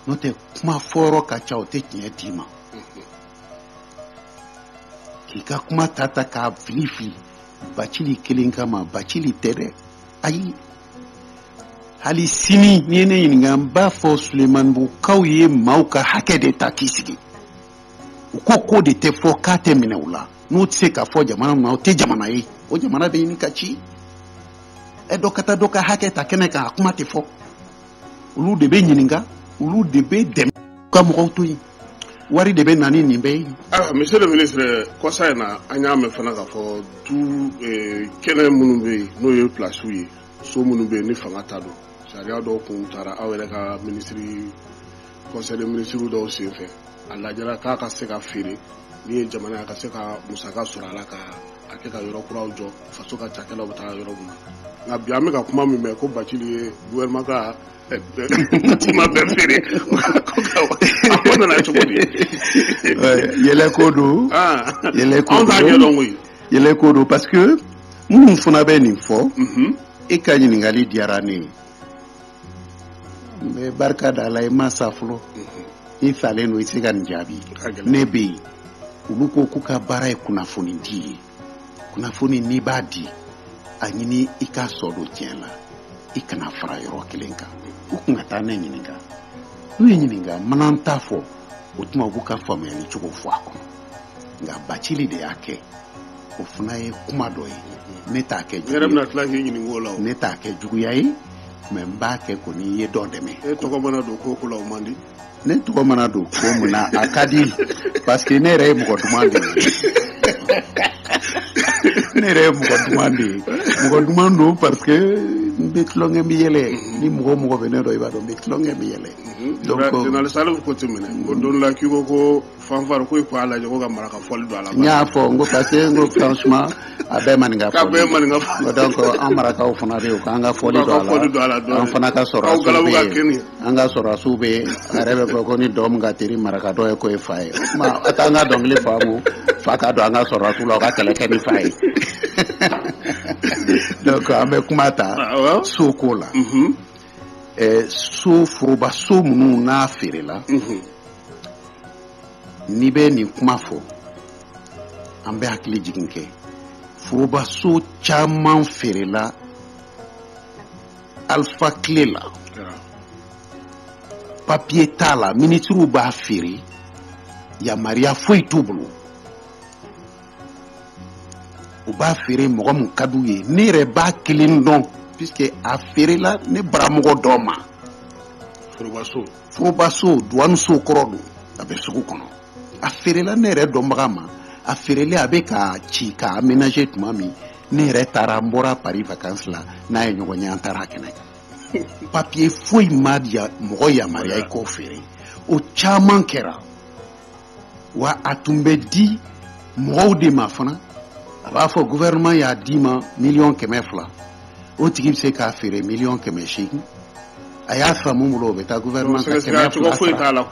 n'o tɛ kuma fɔyɔrɔ ka ca o tɛ tiɲɛ d'i ma k'i ka kuma ta ta k'a fili fili bacili kelen kama bacili tɛ dɛ ayi hali sini n'i ye ne ɲininka n b'a fɔ sulemanbugukaw ye maaw ka hakɛ de ta k'i sigi u ko k'o de tɛ fɔ k'a tɛ minɛ u la n'o tɛ se ka fɔ jamana min na o tɛ jamana ye o jamana bɛ ɲini ka ci ɛ dɔ ka taa dɔ ka hakɛ ta kɛnɛ kan a kuma tɛ fɔ olu de bɛ ɲininka olu de bɛ dɛmɛ ka mɔgɔw to yen wari de bɛ na ni nin bɛɛ ye. ayiwa monsieur le ministre kɔsa in na an y'a mɛn fana k'a fɔ du eh, kɛnɛ minnu bɛ yen n'o ye pilasiw ye so minnu bɛ yen ni fanga ta don sariya dɔw kun taara aw yɛrɛ ka minisiri conseil de ministre dɔw senfɛ a lajɛra k'a ka se ka feere min ye jamana ka se ka musaka sɔrɔ a la ka a kɛ ka yɔrɔ kuraw jɔ faso ka cakɛlaw bɛ taa yɔrɔ min na nka bi an bɛ ka kuma min mɛn ko bacili ye gouvernement ka eh, ma bɛɛ feere a ko nana cogo di yɛlɛ ko don yɛlɛ ko don anw t'a ɲɛdɔn koyi yɛlɛ ko don parce que minnu fana bɛ nin fɔ e ka ɲininkali diyara ne ye n bɛ barika da ala ye n ma sa fɔlɔ i salen don i se ka nin jaabi ne bɛ yen olu ko k'u ka baara ye kunnafoni di ye kunnafoni n'i b'a di a ɲini i k'a sidɔn tiɲɛ la i kana fara yɔrɔ kelen kan u kun ka taa ne ɲininka n'u ye n ɲininka n mana n ta fɔ o tuma u b'u ka faamuyali cogo fɔ a kɔnɔ nka bacili de y'a kɛ o fana ye kuma dɔ ye ne t'a kɛ juguya ye ne t'a kɛ juguya ye mais n b'a kɛ ko n'i ye dɔ dɛmɛ e tɔgɔ mana don ko o ko la o man di ne tɔgɔ mana don ko min na a ka di parce que ne yɛrɛ ye mɔgɔ duman de ye ne yɛrɛ ye mɔgɔ duman de ye mɔgɔ duman don parce que n bɛ tulonkɛ n bɛ yɛlɛ ni mɔgɔ o mɔgɔ bɛ ne dɔn i b'a dɔn n bɛ tulonkɛ n bɛ yɛlɛ donc ko tɛmɛnen ko don la k'i ko ko fanfari ko ko ala ko ka maraka fɔli don a la n y'a fɔ n ko parce que n ko franchement a bɛɛ maninka fɔ a bɛɛ maninka fɔ donc an marakaw fana bɛ yen k'an ka fɔli don a la an fana ka sɔrɔdasi bɛ yen an ka sɔrɔdasiw bɛ yen a yɛrɛ bɛ fɔ ko ni dɔn min ka teri maraka dɔn ye k'o ye fa ye o tuma a t'an ka dɔnkili fa mu fa ka don an ka sɔrɔdasiw la u ka kɛlɛ kɛ ni fa ye donc an bɛ kuma ta sow ko la. so foroba so minnu n'a feerela n'i bɛ nin kuma fɔ an bɛ hakili jigin kɛ foroba so caman feerela alifa tile la papiye t'a la minisiriw b'a feere yamaruya foyi t'u bolo u b'a feere mɔgɔ min ka d'u ye ne yɛrɛ b'a kelen dɔn puisque a feerela ne baramɔgɔ dɔ ma forobaso forobaso duwaniso kɔrɔ don a bɛ sugu kɔnɔ a feerela ne yɛrɛ dɔnbaga ma a feerelen a bɛ k'a ci k'a aménager tuma min ne yɛrɛ taara n bɔra paris vacances la n'a ye ɲɔgɔn ye an taara a kɛnɛ kan papiye foyi ma mɔgɔ yamaruya i k'o feere o caman kɛra wa a tun bɛ di mɔgɔw de ma fana a b'a fɔ gouvernement y'a d'i ma miliyɔn kɛmɛ fila o tigi bɛ se k'a feere miliyɔn kɛmɛ seegin a y'a san min bolo o bɛ taa gouvernement ka kɛmɛ fila sara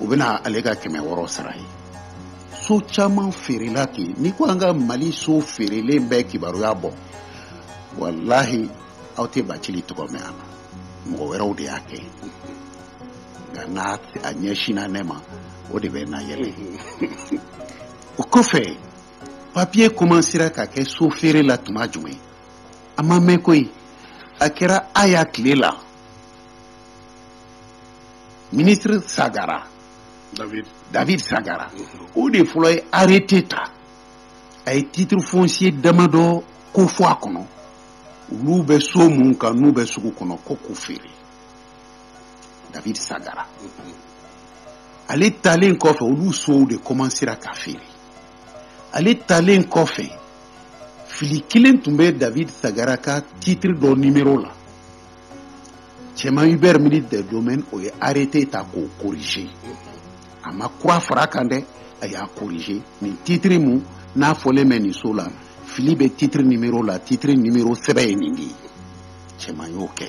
o bɛ na ale ka kɛmɛ wɔɔrɔ sara a ye so caman feerela ten n'i ko an ka mali so feerelen bɛɛ kibaruya bɔ walahi aw tɛ bacili tɔgɔ mɛn a la mɔgɔ wɛrɛw de y'a kɛ nka n'a ɲɛsinna ne ma o de bɛ n nayɛlɛ o kɔfɛ papiye kɔmansera ka kɛ so feere la tuma jumɛn a ma mɛn koyi a kɛra aya tile la minisiri sagara david, david sagara o de fɔlɔ ye arrêté ta a ye titre foncier damadɔ k'o fɔ a kɔnɔ olu bɛ so mun kan n'u bɛ sugu kɔnɔ ko k'u feere david sagara ale talen kɔfɛ olu sow de kɔmansera ka feere ale talen kɔfɛ fili kelen tun bɛ david sagara ka titiri dɔ nimero la cɛman hubert ministre de domaine o ye arrêté ta k'o corriger a ma kura fara kan dɛ a y'a corrigé nin titiri mun n'a fɔlen bɛ nin so la fili bɛ titiri nimero la titiri nimero sɛbɛ ye nin de ye cɛman y'o kɛ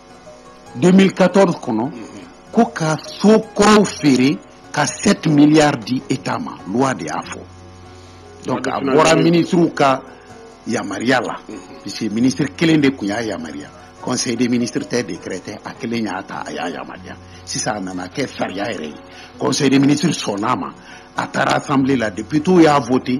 2014 kɔnɔ mhm. ko ka so kɔrɔw feere ka 7 miliyari di eta ma luwa de y'a fɔ donc a bɔra minisiriw ka yamaruya la mhm. puisque minisiri kelen de tun y'a yamaruya conseil des ministres tɛ décret tɛ a kelen y'a ta a y'a yamaruya sisan a nana kɛ sariya yɛrɛ ye conseil des ministres sɔnn'a ma a taara assemblée la députéw y'a voté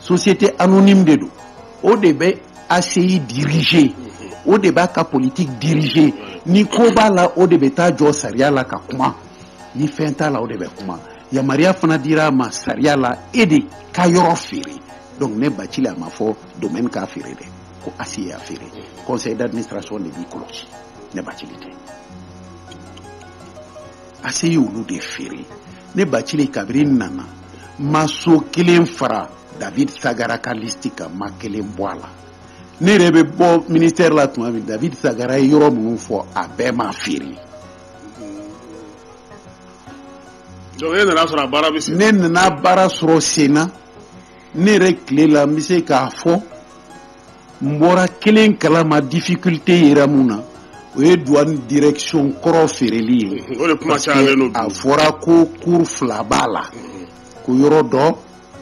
société anonyme de don o de bɛ ACI diriger o de b'a ka politique diriger ni ko b'a la o de bɛ taa jɔ sariya la ka kuma ni fɛn t'a la o de bɛ kuma yamaruya fana dira a ma sariya la e de ka yɔrɔ feere donc ne Bacili a ma fɔ domaine k'a feere dɛ ko ACI y'a feere conseil d'administration de b'i kɔlɔsi ne Bacili tɛ. ACI ye olu de feere ne bacili kabiri n nana n ma so kelen fara david sagara ka listi kan n ma kelen bɔ a la ne yɛrɛ bɛ bɔ ministɛri la tuma min david sagara ye yɔrɔ minnu fɔ a bɛɛ ma feere ne nana baara sɔrɔ senna ne yɛrɛ tile la n bɛ se k'a fɔ n bɔra kelen kala ma difficulté yera mun na o ye douane direction kɔrɔ feereli ye o de kuma cayalen don bi a fɔra ko cour fila b'a la ko yɔrɔ dɔ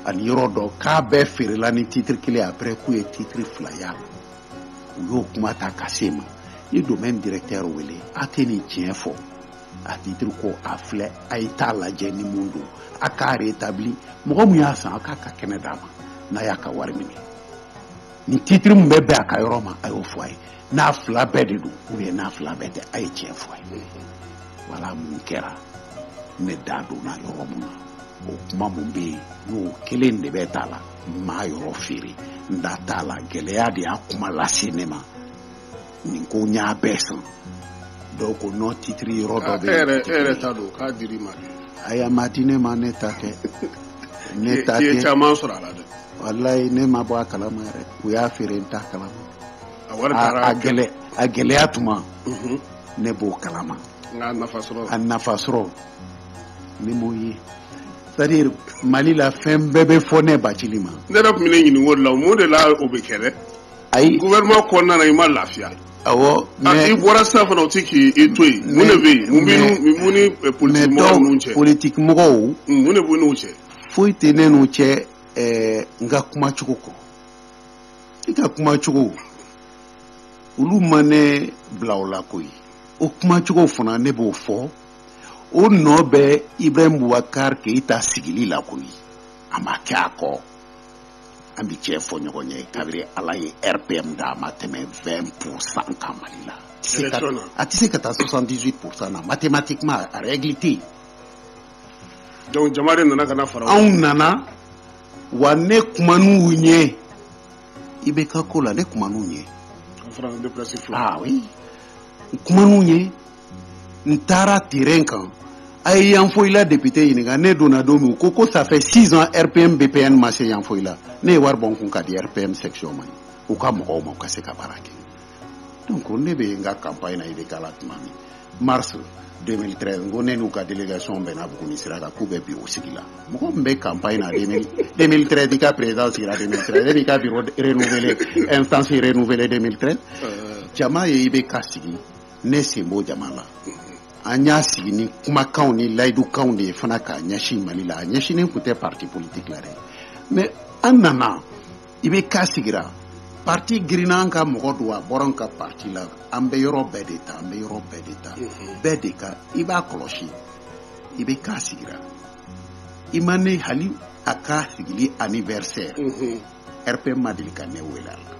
ani yɔrɔ dɔ k'a bɛɛ feerela ni titre kelen après k'u ye titre fila y'a la u y'o kuma ta ka se n ma n ye domaine directeur wele a tɛ nin tiɲɛ fɔ a titre ko a filɛ a ye t'a lajɛ ni mun don a k'a rétabli mɔgɔ min y'a san a k'a ka kɛnɛ d'a ma n'a y'a ka wari minɛ ni titiri min bɛ bɛn a ka yɔrɔ ma a y'o fɔ a ye n'a fila bɛɛ de don u ye n'a fila bɛɛ tɛ a ye tiɲɛ fɔ a ye wala mun kɛra ne da donna yɔrɔ mun na o kuma mun bɛ yen n'o kelen de bɛ t'a la n m'a yɔrɔ feere n da t'a la gɛlɛya de y'a kuma lase ne ma nin ko n y'a bɛɛ san donc o nɔ titiri yɔrɔ dɔ bɛ yen e yɛrɛ t'a dɔn k'a dir'i ma de ayi a ma di ne ma ne ta tɛ ne ta tɛ i ye caman sɔrɔ a la dɛ walayi ne ma bɔ a kalama yɛrɛ u y'a feere n t'a kalama a wari taara a gɛlɛ a gɛlɛya tuma mhm. ne b'o kalama nka a nafa sɔrɔ a nafa sɔrɔ ne m'o ye c'est-à-dire mali la fɛn bɛɛ bɛ fɔ ne bacili ma ne yɛrɛ tun bɛ n'i ɲininka o de la mun de la o bɛ kɛ dɛ ayi gouvernement kɔnɔna na i ma lafiya awɔ ah, mais i bɔra sisan fana o ti k'i to yen mun de bɛ yen mun b'i mun ni eh, politique mɔgɔw n'u cɛ politique mɔgɔw hmm, mun de bɛ ne n'u cɛ foyi tɛ ne n'u cɛ ɛɛ eh, n ka kuma cogo kɔ i ka kuma cogo olu ma ne bila o la koyi o kuma cogo fana ne b'o fɔ o nɔ bɛ ibrahim bubakar keyita sigili la koyi a ma kɛ a kɔ an bɛ tiɲɛ fɔ ɲɔgɔn ye kabiri ala ye rpm da a ma tɛmɛ vingt pour cent kan mali la a tɛ se ka taa soixante-dix pour cent na mathématiquement a règle tɛ yen donc jama de nana ka fara anw nana wa ne kuman'u ye ibk ko la ne kuman'u ye kuman'u ye n taara terrain kan a ye yanfoyila député ɲininka ne donna don min ko ko ça fait 6 ans RPM BPN ma se yanfoyila ne ye wari bɔ n kun ka di RPM section ma u ka mɔgɔw ma u ka se ka baara kɛ donc ne bɛ n ka campagne na IBK la tuma min mars 2013 n ko ne n'u ka délégation bɛnna Buguni sira kan k'u bɛ bureau sigi la mɔgɔ min bɛ campagne na 2013 i ka président sigira 2013 e b'i ka bureau renouvelé instance renouvelé 2013 jama ye IBK sigi ne sen b'o jama la an y'a sigi ni kumakanw ni layidukanw de ye fana k'a ɲɛsin mali la a ɲɛsinnen tun tɛ parti politique la dɛ mais an nana ibk sigira parti girinna an ka mɔgɔ don a bɔra an ka parti la an bɛ yɔrɔ bɛɛ de ta an bɛ yɔrɔ bɛɛ de ta mhm. bɛɛ de ka i b'a kɔlɔsi ibk sigira i ma ne hali a ka sigili anniversaire mhm. rpm ma deli ka ne wele a la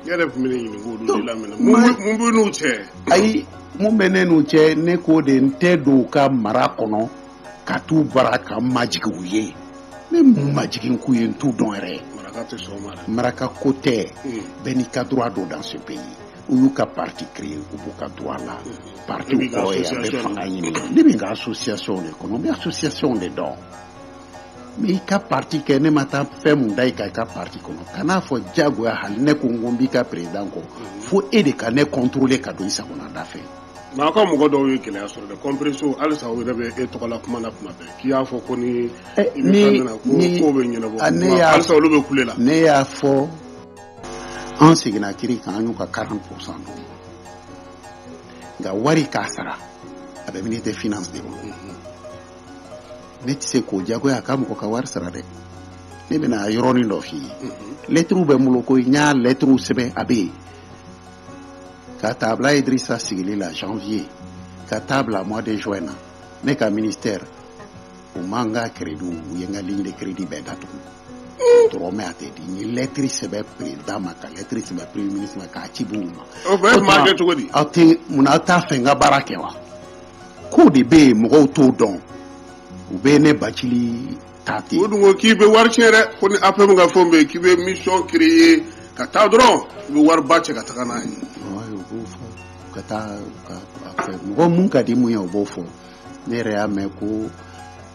yɛrɛ tun bɛ ɲini k'o dun lamɛn mun b'i n'u cɛ ayi mun bɛ ne n'u cɛ ne ko de n tɛ don u ka mara kɔnɔ ka t'u bara ka n majigin u ye ne ma n majigin k'u ye n t'u dɔn yɛrɛ maraka tɛ sɔn ma dɛ maraka ko tɛ bɛɛ n'i ka droit don dans ce pays u y'u ka parti créer u b'u ka droit la parti kɔrɔ ye a bɛ fanga ɲini ne bɛ n ka association de kɔnɔ n bɛ association de dɔn mais i ka parti kɛ ne ma taa fɛn mun da i ka i ka parti kɔnɔ kan'a fɔ diyagoya hali ne ko n ko n b'i ka président kɔ fo e de ka ne contrôler ka don i sagona da fɛ nka aw ka mɔgɔ dɔw ye gɛlɛya sɔrɔ dɛ compresséw halisa u yɛrɛ bɛ e tɔgɔ la kuma na kuma bɛɛ k'i y'a fɔ ko ni eh, i bɛ fɛn na ko kow bɛ ɲɛnabɔ ah, halisa olu bɛ kule la ne y'a fɔ an seginna kiri kan an y'u ka 40 pourcent d'u ma nka wari ka sara a bɛ ministre des finances de bolo ne tɛ se k'o jagoya a ka mɔgɔ ka wari sara dɛ ne bɛna yɔrɔnin dɔ f'i ye lɛtiriw bɛ n bolo koyi n y'a lɛtiriw sɛbɛn a bɛ yen ka taa bila Idirisa sigili la janvier ka taa bila mois de juin na ne ka ministère u ma n ka crédit u ye n ka ligne de crédit bɛɛ datugu dɔrɔmɛ a tɛ di n ye lɛtiri sɛbɛn président ma ka lɛtiri sɛbɛn premier ministre ma k'a ci b'u ma o bɛɛ maa kɛ cogo di aw tɛ mun na aw t'a fɛ n ka baara kɛ wa kow de bɛ yen mɔgɔw t'o dɔn u bɛ ne bacili ta ten. u dun ko k'i bɛ wari tiɲɛ dɛ ko ni APM ka fɛnw bɛ yen k'i bɛ mission créer ka taa dɔrɔn i bɛ wariba cɛ ka taga n'a ye. ayi u b'o fɔ ka taa ka a fɛ mɔgɔ mun ka di mun ye o b'o fɔ ne yɛrɛ y'a mɛn ko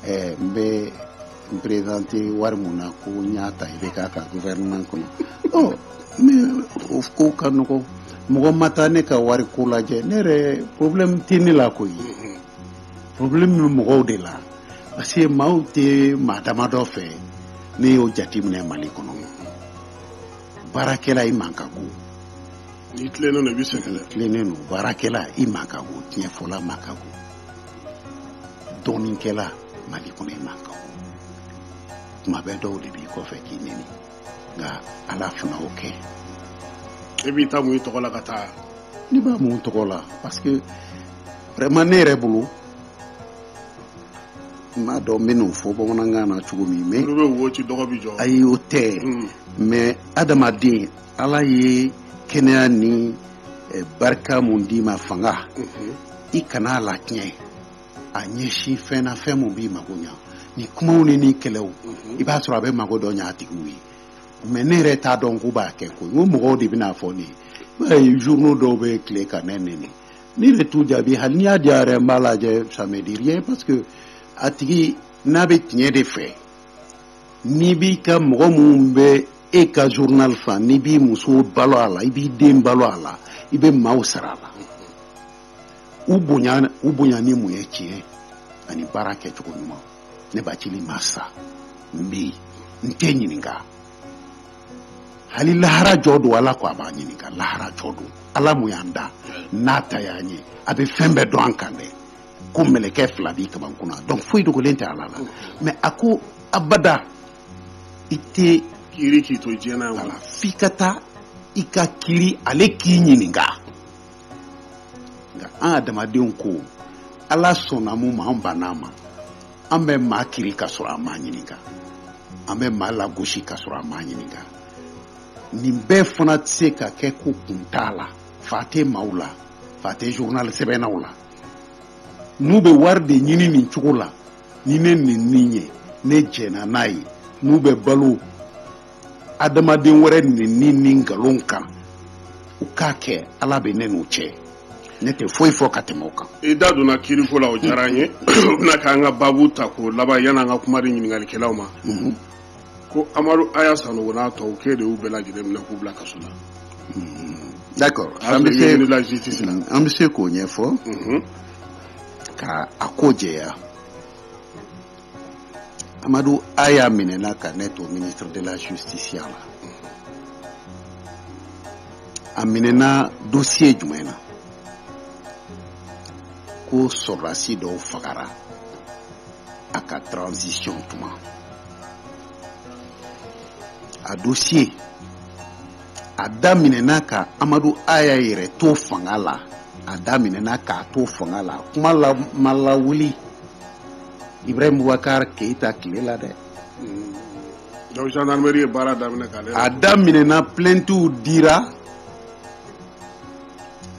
ɛɛ n bɛ. N présenter wari min na ko n y'a ta IBK ka gouvernement kɔnɔ ɔ mais o ko ka nɔgɔ mɔgɔ ma taa ne ka wari ko lajɛ ne yɛrɛ problème tɛ ne la koyi problème bɛ mɔgɔw de la parce que maaw tɛ maa damadɔ fɛ ne y'o jateminɛ Mali kɔnɔ baarakɛla i man ka go n'i tilennen don i bɛ sɛgɛn dɛ tilennen don baarakɛla i man ka go tiɲɛ fɔla man ka go dɔnnikɛla Mali kɔnɔ i man kan kuma bɛɛ dɔw de b'i kɔfɛ k'i neni nka ala fana o kɛ e b'i ta mun i tɔgɔ la ka taa ne b'a mun tɔgɔ la parce que vraiment ne yɛrɛ bolo n m'a dɔn n bɛn'o fɔ bamanankan na cogo min mais olu bɛ wo ci dɔgɔ bi jɔ ayi o tɛ mais adamaden ala ye kɛnɛya ni eh, barika mun d'i ma fanga mhm. i kana a latiɲɛ a ɲɛsin fɛn na fɛn mun b'i mago ɲa ni kumaw ni ni kɛlɛw mhm. i b'a sɔrɔ a bɛ mago dɔ ɲa a tigiw ye mais ne yɛrɛ t'a dɔn k'u b'a kɛ koyi mɔgɔw de bɛ n'a fɔ ne ye journaux dɔw bɛ tile ka ne neni ne yɛrɛ t'u jaabi hali n'i y'a diya yɛrɛ n b'a lajɛ ça me dit rien parce que a tigi n'a bɛ tiɲɛ de fɛ n'i b'i ka mɔgɔ minnu bɛ e ka journal fa n'i b'i muso balo a la i b'i den balo a la i bɛ maaw sara a la u bonya u bonya ni mun ye tiɲɛ ani baara kɛcogo ɲuman ne bacili ma sa n bɛ yen n tɛ ɲininka hali lahara jɔ don ala ko a b'a ɲininka lahara jɔ don ala mun y'an da n'a ta y'an ye a bɛ fɛn bɛɛ dɔn an kan dɛ ko mɛlɛkɛ fila b'i kamankun na donc foyi dogolen tɛ ala la mais a ko abada i tɛ kiri k'i to diɲɛ na wala f'i ka taa i ka kiri ale k'i ɲininka nka an adamadenw ko ala sɔnna mun ma an bann'a ma an bɛ maa kiri ka sɔrɔ an m'a ɲininka an bɛ maa lagosi ka sɔrɔ an m'a ɲininka nin bɛɛ fana tɛ se ka kɛ ko kun t'a la fa tɛ maaw la fa tɛ journal sɛbɛnnaw la n'u bɛ wari de ɲini nin cogo la ni ne nɛni ye ne jɛnna n'a ye n'u bɛ balo adamaden wɛrɛ nɛni ni nkalon kan u k'a kɛ ala bɛ ne n'u cɛ ne tɛ foyi fɔ ka tɛmɛ o kan i da donna kiiriko la o diyara an ye o bɛna k'an ka babu tako laban yan'an ka kuma di ɲininkalikɛlaw ma mhm. ko amadu aya sanogo n'a tɔw k'e de y'u bɛɛ lajɛlen minɛ k'u bila kaso la mhm. d'accord an bɛ se k'o ɲɛfɔ mhm. ka a ko jɛya amadu aya minɛna ka ne to ministre de la justice ya la a minɛna dossier jumɛn na ko sɔrɔdasi dɔw fagara a ka transition tuma a dossier a daminɛna ka amadu aya yɛrɛ to fanga la a daminɛna k'a to fanga la kuma la ma lawuli ibrahim bubakar keyita tile la dɛ donc gendarmerie ye baara daminɛ k'ale a daminɛna plaintew dira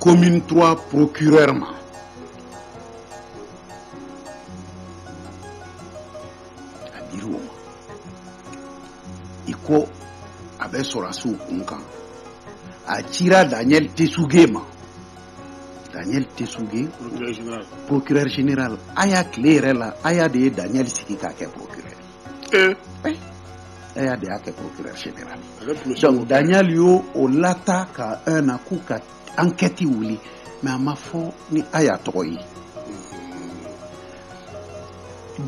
commune 3 procureur ma a dira o ma i ko a bɛ sɔrɔdasiw kunkan a cira daniel tesuge ma daniel tesuge procureur général aya tile yɛrɛ la aya de ye daniel sigi k'a kɛ procureur eh. eh. aya de y'a kɛ procureur général donc daniel y'o o lata ka un na k'u ka ankɛti wuli mais a ma fɔ ni Aya tɔgɔ ye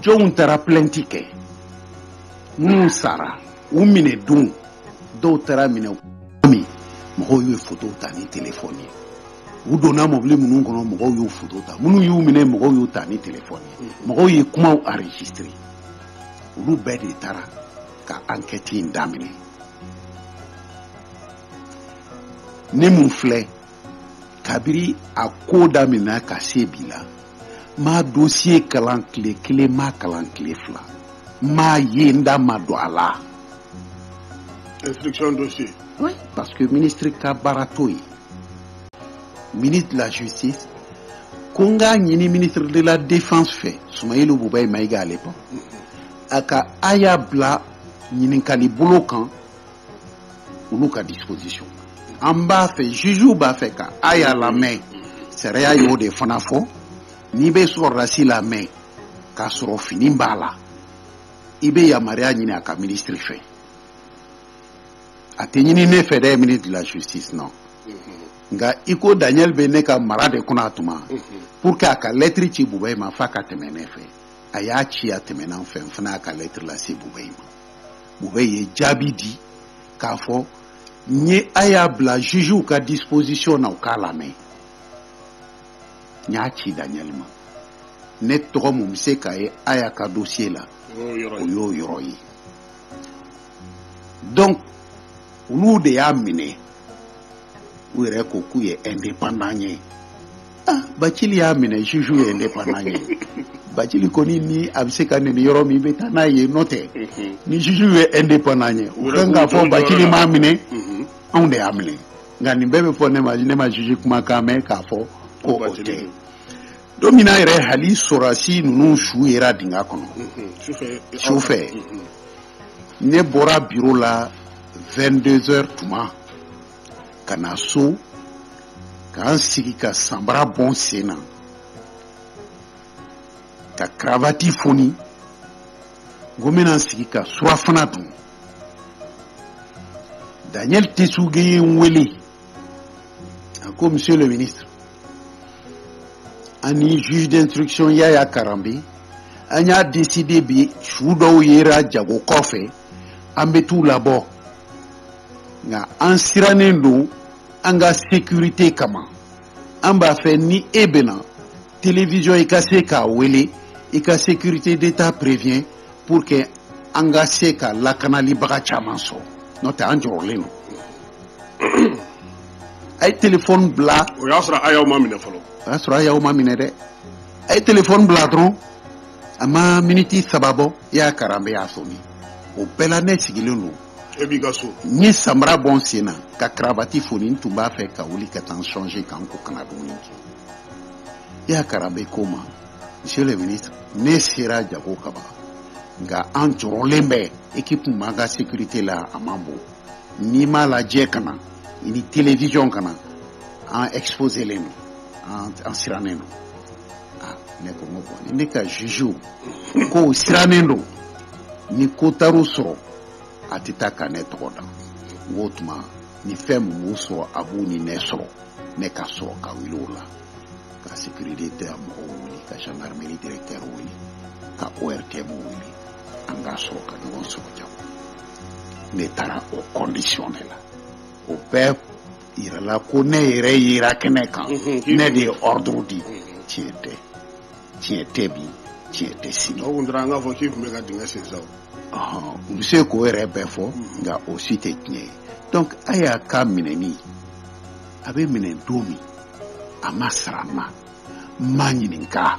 jɔnw taara plɛnti kɛ minnu sara u minɛ don dɔw taara minɛ min mɔgɔw y'u foto ta ni telefɔni ye u donna mɔbili minnu kɔnɔ mɔgɔw y'u foto ta minnu y'u minɛ mɔgɔw y'u ta ni telefɔni ye mɔgɔw ye kumaw enregistré olu bɛɛ de taara ka ankɛti in daminɛ ne mun filɛ kabiri a ko daminɛ ka se bi la n m'a dosiye kalan tile kelen n m'a kalan tile fila n m'a ye n da ma don a la instruction dossier oui parce que ministre ka baara t'o ye ministre de la justice ko n k'a ɲini ministre de la défense fɛ sumeyilu bubɛyi mayiga à l'époque a ka Aya bila ɲininkali bolo kan olu ka disposition an b'a fɛ jugew b'a fɛ ka Aya lamɛn sariya y'o de fana fɔ n'i bɛ sɔrɔdasi lamɛn k'a sɔrɔ fini b'a la i bɛ yamaruya ɲini a ka minisiri fɛ a tɛ ɲini ne fɛ dɛ ministre de la justice non nka i ko daniel bɛ ne ka mara de kɔnɔ a tuma pour que a ka lɛtiri ci bubɛyi ma f'a ka tɛmɛ ne fɛ a y'a ci a tɛmɛna n fɛ n fana y'a ka lɛtiri lase bubɛyi ma bubɛyi ye jaabi di k'a fɔ n ye a y'a bila jugew ka disposition na u k'a lamɛn n y'a ci daniel ma ne tɔgɔ mun bɛ se ka ye Aya ka dossier la o y'o yɔrɔ ye donc olu de y'a minɛ u yɛrɛ ko k'u ye indépendant ye ah Bacili y'a minɛ juge ye indépendant ye Bacili kɔni ni a bɛ se ka neni yɔrɔ min i bɛ taa n'a ye n'o tɛ ni juge ye indépendant ye u kan k'a fɔ Bacili m'a minɛ anw de y'a minɛ nka nin bɛɛ bɛ fɔ ne ma ne ma juge kumakan mɛn k'a fɔ ko o tɛ don min na yɛrɛ hali sɔrɔdasi ninnu su yera dingɛ kɔnɔ su fɛ ne bɔra biro la vingt-deux heures tuma ka na so ka n sigi ka sanbara bɔ n sen na ka karavati foni ko n bɛna n sigi ka surafana dun daniel tesuge ye n wele a ko monsieur le ministre an ni juge d'instruction yaya karambe an y'a décider bi su dɔw yera jago kɔfɛ an bɛ t'u labɔ nka an sirannen don an ka sécurité kama an b'a fɛ ni e bɛna télévision i ka se k'a wele i ka sécurité d'état prévient pour que an ka se ka lakanalibaga caman sɔrɔ n'o tɛ an jɔrɔlen don a ye telefɔni bila o y'a sɔrɔ haya ma minɛ fɔlɔ o y'a sɔrɔ haya ma minɛ dɛ a ye telefɔni bila dɔrɔn a ma miniti saba bɔ yaya karanbe y'a sonné o bɛɛ la ne sigilen don e b'i ka so n ye samara bɔ n sen na ka karavati foni n tun b'a fɛ ka wuli ka taa n change ka n ko ka na dumuni kɛ yaya karanbe ko n ma monsieur le ministre ne sera jago kaba nka an jɔrɔlen bɛ ekipu m'an ka sécurité la a man bon n'i m'a lajɛ ka na i ni télévision ka na an exposélen don an sirannen don ah, ne ko ko bon ne ka jugew k'u sirannen don ni ko taar'u sɔrɔ a tɛ taa ka ne tɔgɔ dan o tuma ni fɛn min b'u sɔrɔ a b'u ni ne sɔrɔ ne ka sɔrɔ ka wuli o la ka sécurité d'état mɔgɔw wele ka gendarmerie directeur wele ka ortm wele an k'a sɔrɔ ka ɲɔgɔn sɔrɔ jago ne taara o condition de la o bɛɛ yirala ko ne yɛrɛ yera kɛnɛ kan mhm, ne de ye ordre di mhm. tiɲɛ tɛ tiɲɛ tɛ bi tiɲɛ tɛ sini o tun taara an k'a fɔ k'i tun bɛ ka dingɛ sen sa u bɛ se k'o yɛrɛ bɛɛ fɔ mhm. nka o si tɛ tiɲɛ ye donc haya ka minɛni a bɛ minɛ don min a ma sara n ma n ma ɲininka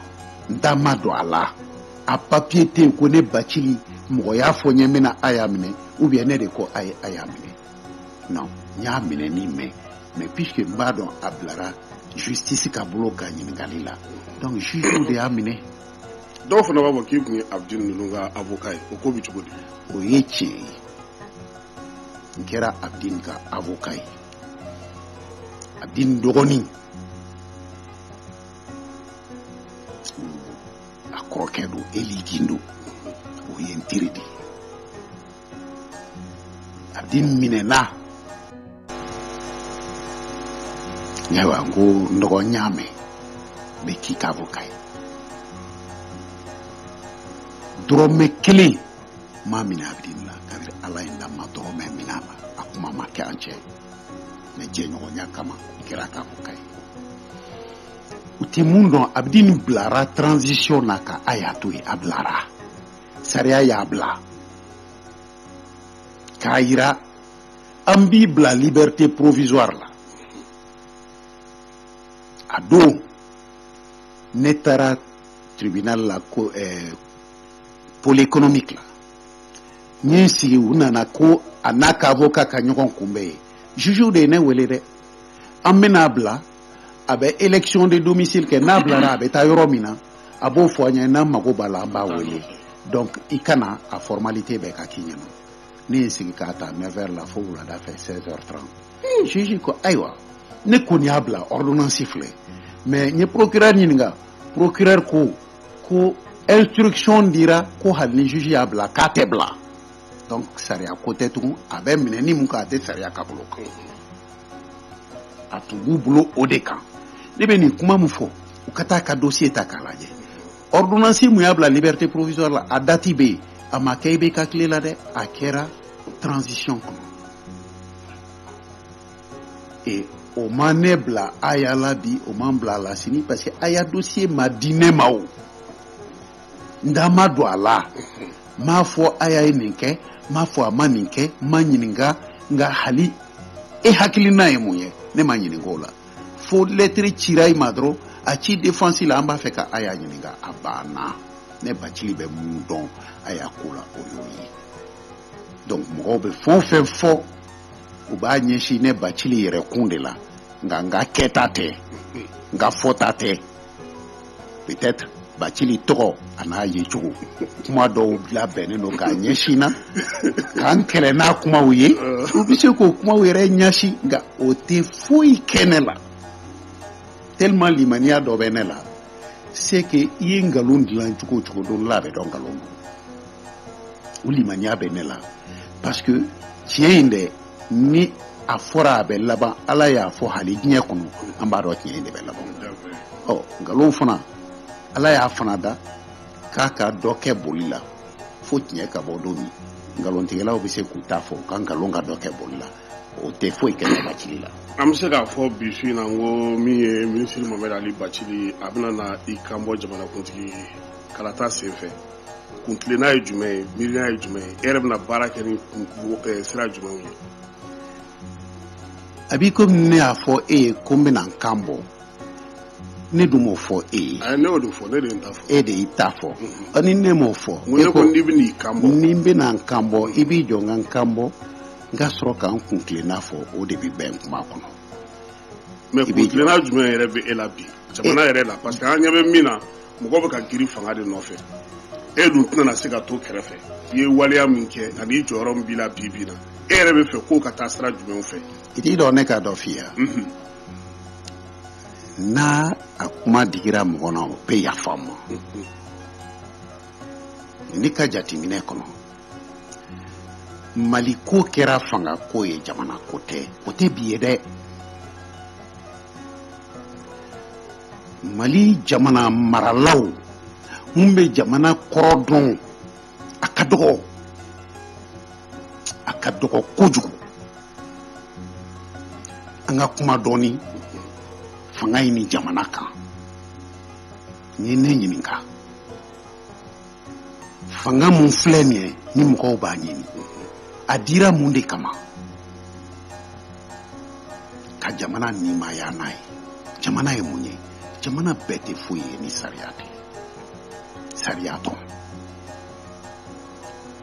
n da ma don a la a papiye tɛ yen ko ne bacili mɔgɔ y'a fɔ n ye n bɛna haya minɛ ou bien ne de ko a ye haya minɛ non n y'a minɛni mɛn mais puisque n b'a dɔn a bilara justice ka bolo ka ɲininkali la donc juge de y'a minɛ dɔw fana b'a fɔ k'i tun ye abdin ninnu ka avocat ye o ko bɛ cogo di o ye tiɲɛ ye n kɛra abdin ka avocat ye abdin dɔgɔnin a kɔrɔkɛ don eli gindo o ye n teri de ye abdin minɛna ayiwa n ko n dɔgɔ n y'a mɛn n bɛ k'i ka avocat ye dɔrɔmɛ kelen n m'a minɛ abdin na kabiri ala ye n da n ma dɔrɔmɛ minɛ a la a kuma ma kɛ an cɛ mais jɛɲɔgɔnya kama n kɛra a ka avocat ye u tɛ mun dɔn abdin bilara transition na ka haya to yen a bilara sariya y'a bila k'a yira an b'i bila liberté provisoire la a don ne taara tribunal la ko ɛɛ eh, pôle économique la ne sigi u nana ko a n'a ka avocat ka ɲɔgɔn kunbɛn yen juge de ye ne wele dɛ an bɛna bila a bɛ élection de domicile kɛ n'a bilara a bɛ taa yɔrɔ min na a b'o fɔ an ye n'an mago b'a la an b'a wele donc i ka na a formalité bɛɛ ka k'i ɲɛna ne ye sigi k'a ta 9 heures la fo wulada fɛ 16 heures 30 hmm, juge ko ayiwa ne kɔni y'a bila ordonnance filɛ mais n ye procureur ɲininka procureur ko ko instruction dira ko hali ni juge y'a bila k'a tɛ bila donc sariya ko tɛ tugun a bɛ minɛnen mun kan a tɛ sariya ka bolo kan a tun b'u bolo o de kan ne bɛ nin kuma min fɔ u ka taa ka dossier ta k'a lajɛ ordonnance min y'a bila liberté provisoire la a dati bɛ yen a ma kɛ IBK tile la dɛ a kɛra transition kɔnɔ ee o ma ne bila aya la bi o ma n bila a la sini parce que aya dossier ma di ne ma o n da ma don a la n m'a fɔ aya ye nin kɛ n m'a fɔ a ma nin kɛ n ma ɲininka nka hali e hakilina ye mun ye ne ma ɲininka o la fo lettre cira i ma dɔrɔn a ci défense la an b'a fɛ ka aya ɲininka a banna ne bacili bɛ mun dɔn aya ko la o y'o ye donc mɔgɔw bɛ fɛn o fɛn fɔ u b'a ɲɛsin ne bacili yɛrɛ kun de la nka n ka kɛta tɛ n ka fɔta tɛ peut-être bacili tɔgɔ a n'a yecogo kuma dɔw labɛnnen don k'a ɲɛsin n na ka n kɛlɛ n'a kumaw ye u bɛ se k'o kumaw yɛrɛ jɛnsɛn nka o tɛ foyi kɛ ne la tellement limaniya dɔ bɛ ne la c'est que i ye nkalon dilan cogo o cogo don dɔ la a bɛ dɔn nkalon don o limaniya bɛ ne la parce que tiɲɛ in dɛ ni a fɔra a bɛ laban ala y'a fɔ hali diɲɛ kɔnɔ an b'a dɔn tiɲɛ in de bɛ laban ɔ nkalon fana ala y'a fana da k'a ka dɔ kɛ boli la fo tiɲɛ ka bɔ don min nkalontigɛlaw bɛ se k'u ta fɔ ka nkalon ka dɔ kɛ boli la o tɛ foyi kɛ ne bacili la an bɛ se k'a fɔ bi su in na ko min ye minisiri mamɛdi ali bacili a bɛna na i kan bɔ jamanakuntigi kalata senfɛ kuntilenna ye jumɛn ye miiriya ye jumɛn ye e yɛrɛ bɛna baara kɛ ni eh, sira jumɛnw ye a b'i komi ne y'a fɔ e ye ko n bɛna n kan bɔ ne dun m'o fɔ e ye eh, ne y'o de fɔ ne de ye n ta fɔ e de y'i ta fɔ mm-hmm. ɔ ni ne m'o fɔ e ko n'i bɛna i kan bɔ ni n bɛna n kan bɔ i b'i jɔ n ka n kan bɔ n ka sɔrɔ ka n kuntilenna fɔ o de bɛ bɛn kuma kɔnɔ mais kuntilenna jumɛn yɛrɛ bɛ e la bi jamana yɛrɛ la parce que an ɲɛ bɛ min na mɔgɔ bɛ ka giri fanga de nɔfɛ e dun tɛna se ka to kɛrɛfɛ i ye waleya min kɛ ani jɔyɔrɔ min b'i la bi bi in na e yɛrɛ bɛ fɛ k'o ka taa sira jumɛnw fɛ i t'i jɔ ne ka dɔ f'i ye mhm. n'a a kuma digira mɔgɔ na o bɛ yafa n ma mhm. ne ka jateminɛ kɔnɔ mali ko kɛra fanga ko ye jamana ko tɛ o tɛ bi ye dɛ mali jamana maralaw mun bɛ jamana kɔrɔ dɔn a ka dɔgɔ a ka dɔgɔ kojugu an ka kuma dɔɔni fanga in ni jamana kan n'i ye ne ɲininka fanga mun filɛ nin ye ni mɔgɔw b'a ɲini a dira mun de kama ka jamana nimaya n'a ye jamana ye mun ye jamana bɛɛ tɛ foyi ye ni sariya tɛ sariya tɔn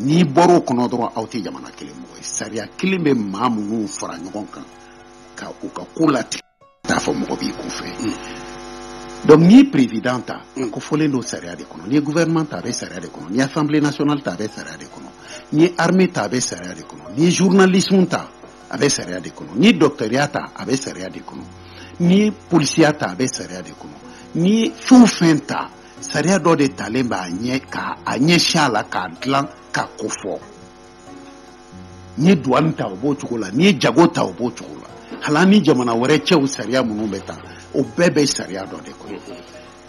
n'i bɔra o kɔnɔ dɔrɔn aw tɛ jamana kelen mɔgɔ ye sariya kelen bɛ maa minnu fara ɲɔgɔn kan ka u ka ko latigɛ t'a fɔ mɔgɔ b'i kun fɛ mm. donc n'i ye président ta a mm. kofɔlen don sariya de kɔnɔ n'i ye gouvernement ta a bɛ sariya de kɔnɔ n'i ye assemblée nationale ta a bɛ sariya de kɔnɔ n'i ye armée ta a bɛ sariya de kɔnɔ n'i ye journalisme ta a bɛ sariya de kɔnɔ n'i ye docteurya ta a bɛ sariya de kɔnɔ n'i ye polisiya ta a bɛ sariya de kɔnɔ n'i ye fɛn o fɛn ta sariya dɔ de talen b'a ɲɛ ka a ɲɛsin a la k'a dilan k'a kofɔ n'i ye duwani ta o b'o cogo la n'i ye jago ta o b'o cogo la hali a ni jamana wɛrɛ cɛw sariya minnu bɛ ta o bɛɛ bɛ sariya dɔ de kɔnɔ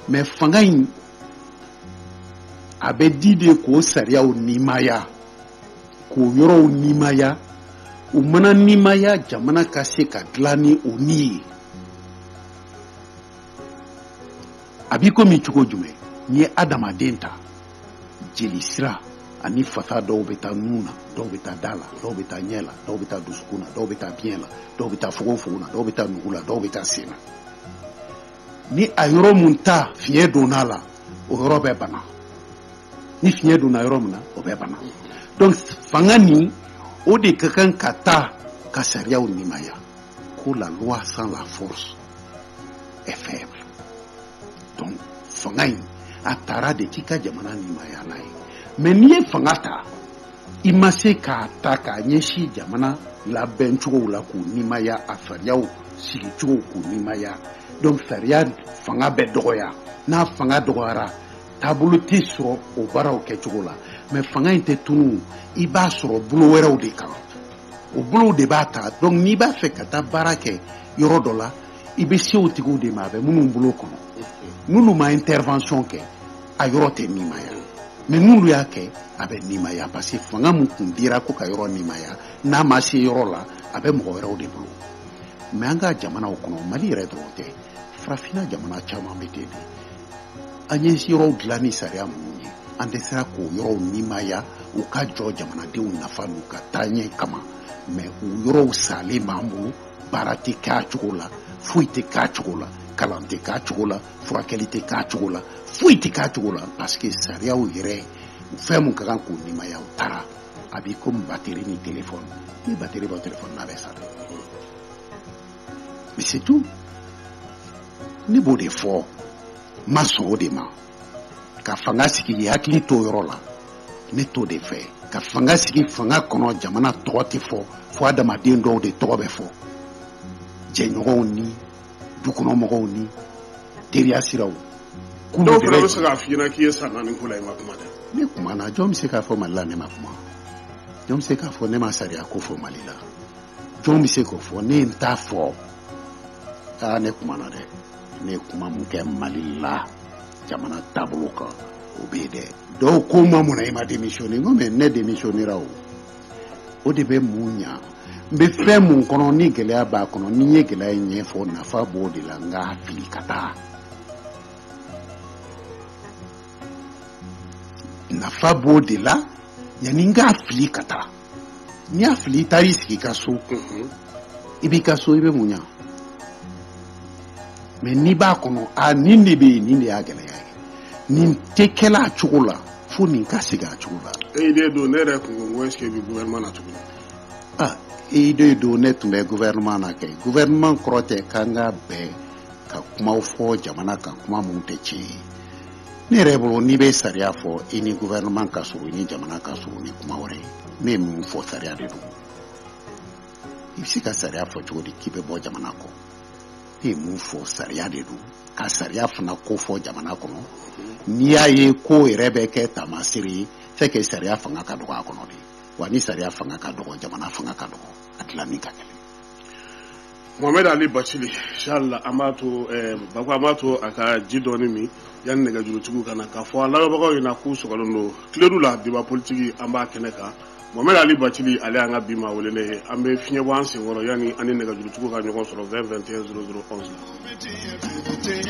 mais fanga in a bɛ di de k'o sariyaw nimaya k'o yɔrɔw nimaya u mana nimaya jamana ka se ka dilan ni o ni ye a b'i komi cogo jumɛn n'i ye adamaden ta jeli sira ani fasa dɔw bɛ taa nun na dɔw bɛ taa da la dɔw bɛ taa ɲɛ la dɔw bɛ taa dusukun na dɔw bɛ taa biɲɛ la dɔw bɛ taa fogofogo na dɔw bɛ taa nugu la dɔw bɛ taa sen na ni a yɔrɔ mun ta fiɲɛ donna a la o yɔrɔ bɛ bana ni fiɲɛ donna yɔrɔ min na o bɛ bana donc fanga nin o de ka kan ka taa ka sariyaw nimaya ko la loi sans la force est faible donc fanga in a tara de k'i ka jamana nimaya n'a ye mais n'i ye fanga ta i ma se k'a ta k'a ɲɛsin jamana labɛn cogow la k'u nimaya a sariyaw sigi cogow k'u nimaya donc sariya fanga bɛ dɔgɔya n'a fanga dɔgɔyara taabolo tɛ sɔrɔ o baaraw kɛcogo la mais fanga in tɛ tunu i b'a sɔrɔ bolo wɛrɛw de kan o bolow de b'a ta donc n'i b'a fɛ ka taa baara kɛ yɔrɔ dɔ la i bɛ se o tigiw de ma a bɛ minnu bolo kɔnɔ n'olu ma intervention kɛ a yɔrɔ tɛ nimaya mais n'olu y'a kɛ a bɛ nimaya parce que fanga min kun dira ko ka yɔrɔ nimaya n'a ma se yɔrɔ la a bɛ mɔgɔ wɛrɛw de bolo mais an ka jamanaw kɔnɔ mali yɛrɛ dɔrɔn tɛ farafinna jamana caman bɛ ten de an ye yɔrɔw dilan ni sariya minnu ye an tɛ sera k'o yɔrɔw nimaya u ka jɔ jamanadenw nafa n'u ka taaɲɛ kama mais o yɔrɔw salen b'an bolo baara tɛ k'a cogo la foyi tɛ k'a cogo la kalan tɛ k'a cogo la furakɛli tɛ k'a cogo la foyi tɛ k'a cogo la parce que sariyaw yɛrɛ fɛn min ka kan k'o nimaya u taara a b'i comme bateri ni telefɔni n'i ye bateri bɔ telefɔni na a bɛ sa dɛ mais c'est tout ne b'o de fɔ n ma sɔn o de ma ka fanga sigi k'i hakili to o yɔrɔ la ne t'o de fɛ ka fanga sigi fanga kɔnɔ jamana tɔgɔ tɛ fɔ fo adamaden dɔw de tɔgɔ bɛ fɔ jɛɲɔgɔnw ni dukɔnɔ mɔgɔw ni teriya siraw dɔw fana bɛ se k'a f'i ɲɛna k'i ye san naani ko la i ma kuma dɛ ne kumana jɔn bɛ se k'a fɔ mali la ne ma kuma jɔn bɛ se k'a fɔ ne ma sariya ko fɔ mali la jɔn bɛ se k'o fɔ ne ye n t'a fɔ aa ne kumana dɛ ne ye kuma min kɛ mali la jamana taabolo kan o bɛ yen dɛ dɔw ko n ma mun na i ma demisiyɔne n ko mais ne demisiyɔnera o o de bɛ mun ɲa n bɛ fɛn min kɔnɔ ni gɛlɛya b'a kɔnɔ ni n ye gɛlɛya in ɲɛfɔ nafa b'o de la n k'a fili ka taa nafa b'o de la yanni n k'a fili ka taa n'i y'a fili i taar'i sigi i ka so i b'i ka so i bɛ mun ɲa mais n'i b'a kɔnɔ a nin de bɛ yen nin de y'a gɛlɛya ye nin tɛ kɛla a cogo la fo nin ka segin a cogo la. e de don ne yɛrɛ kun ko n ko est-ce que i bɛ gouvernement na tuguni. ah e de don ne tun bɛ gouvernement na kɛ gouvernement kɔrɔ tɛ k'an ka bɛn ka kumaw fɔ jamana kan kuma minnu tɛ tiɲɛ ye. ne yɛrɛ bolo n'i bɛ sariya fɔ i ni gouvernement ka surun i ni jamana ka surun ni kuma wɛrɛ ye ne ye min fɔ sariya de don i bɛ se ka sariya fɔ cogo di k'i bɛ bɔ jamana kɔ ne ye min fɔ sariya de don ka sariya fana ko fɔ jamana kɔnɔ n'i y'a ye ko yɛrɛ bɛ ka taama sira in fɛ kɛ sariya fanga ka dɔgɔ a kɔnɔ de wa ni sariya fanga ka dɔgɔ jamana fanga ka dɔgɔ a dilanni ka gɛlɛn Mohamed Ali Bathily inchallah an b'a to eh, Bako an b'a to a ka ji dɔɔni min yanni nɛgɛjurutigiw ka na k'a fɔ a lamɛnbagaw ɲɛna k'u sɔgɔlen don Kledu la débat politique an b'a kɛnɛ kan Mohamed Ali Bathily ale y'an ka bi maa welelen ye an bɛ fiɲɛ bɔ an senkɔrɔ yanni an ni nɛgɛjurutigiw ka ɲɔgɔn sɔrɔ 20 21 00 11 la.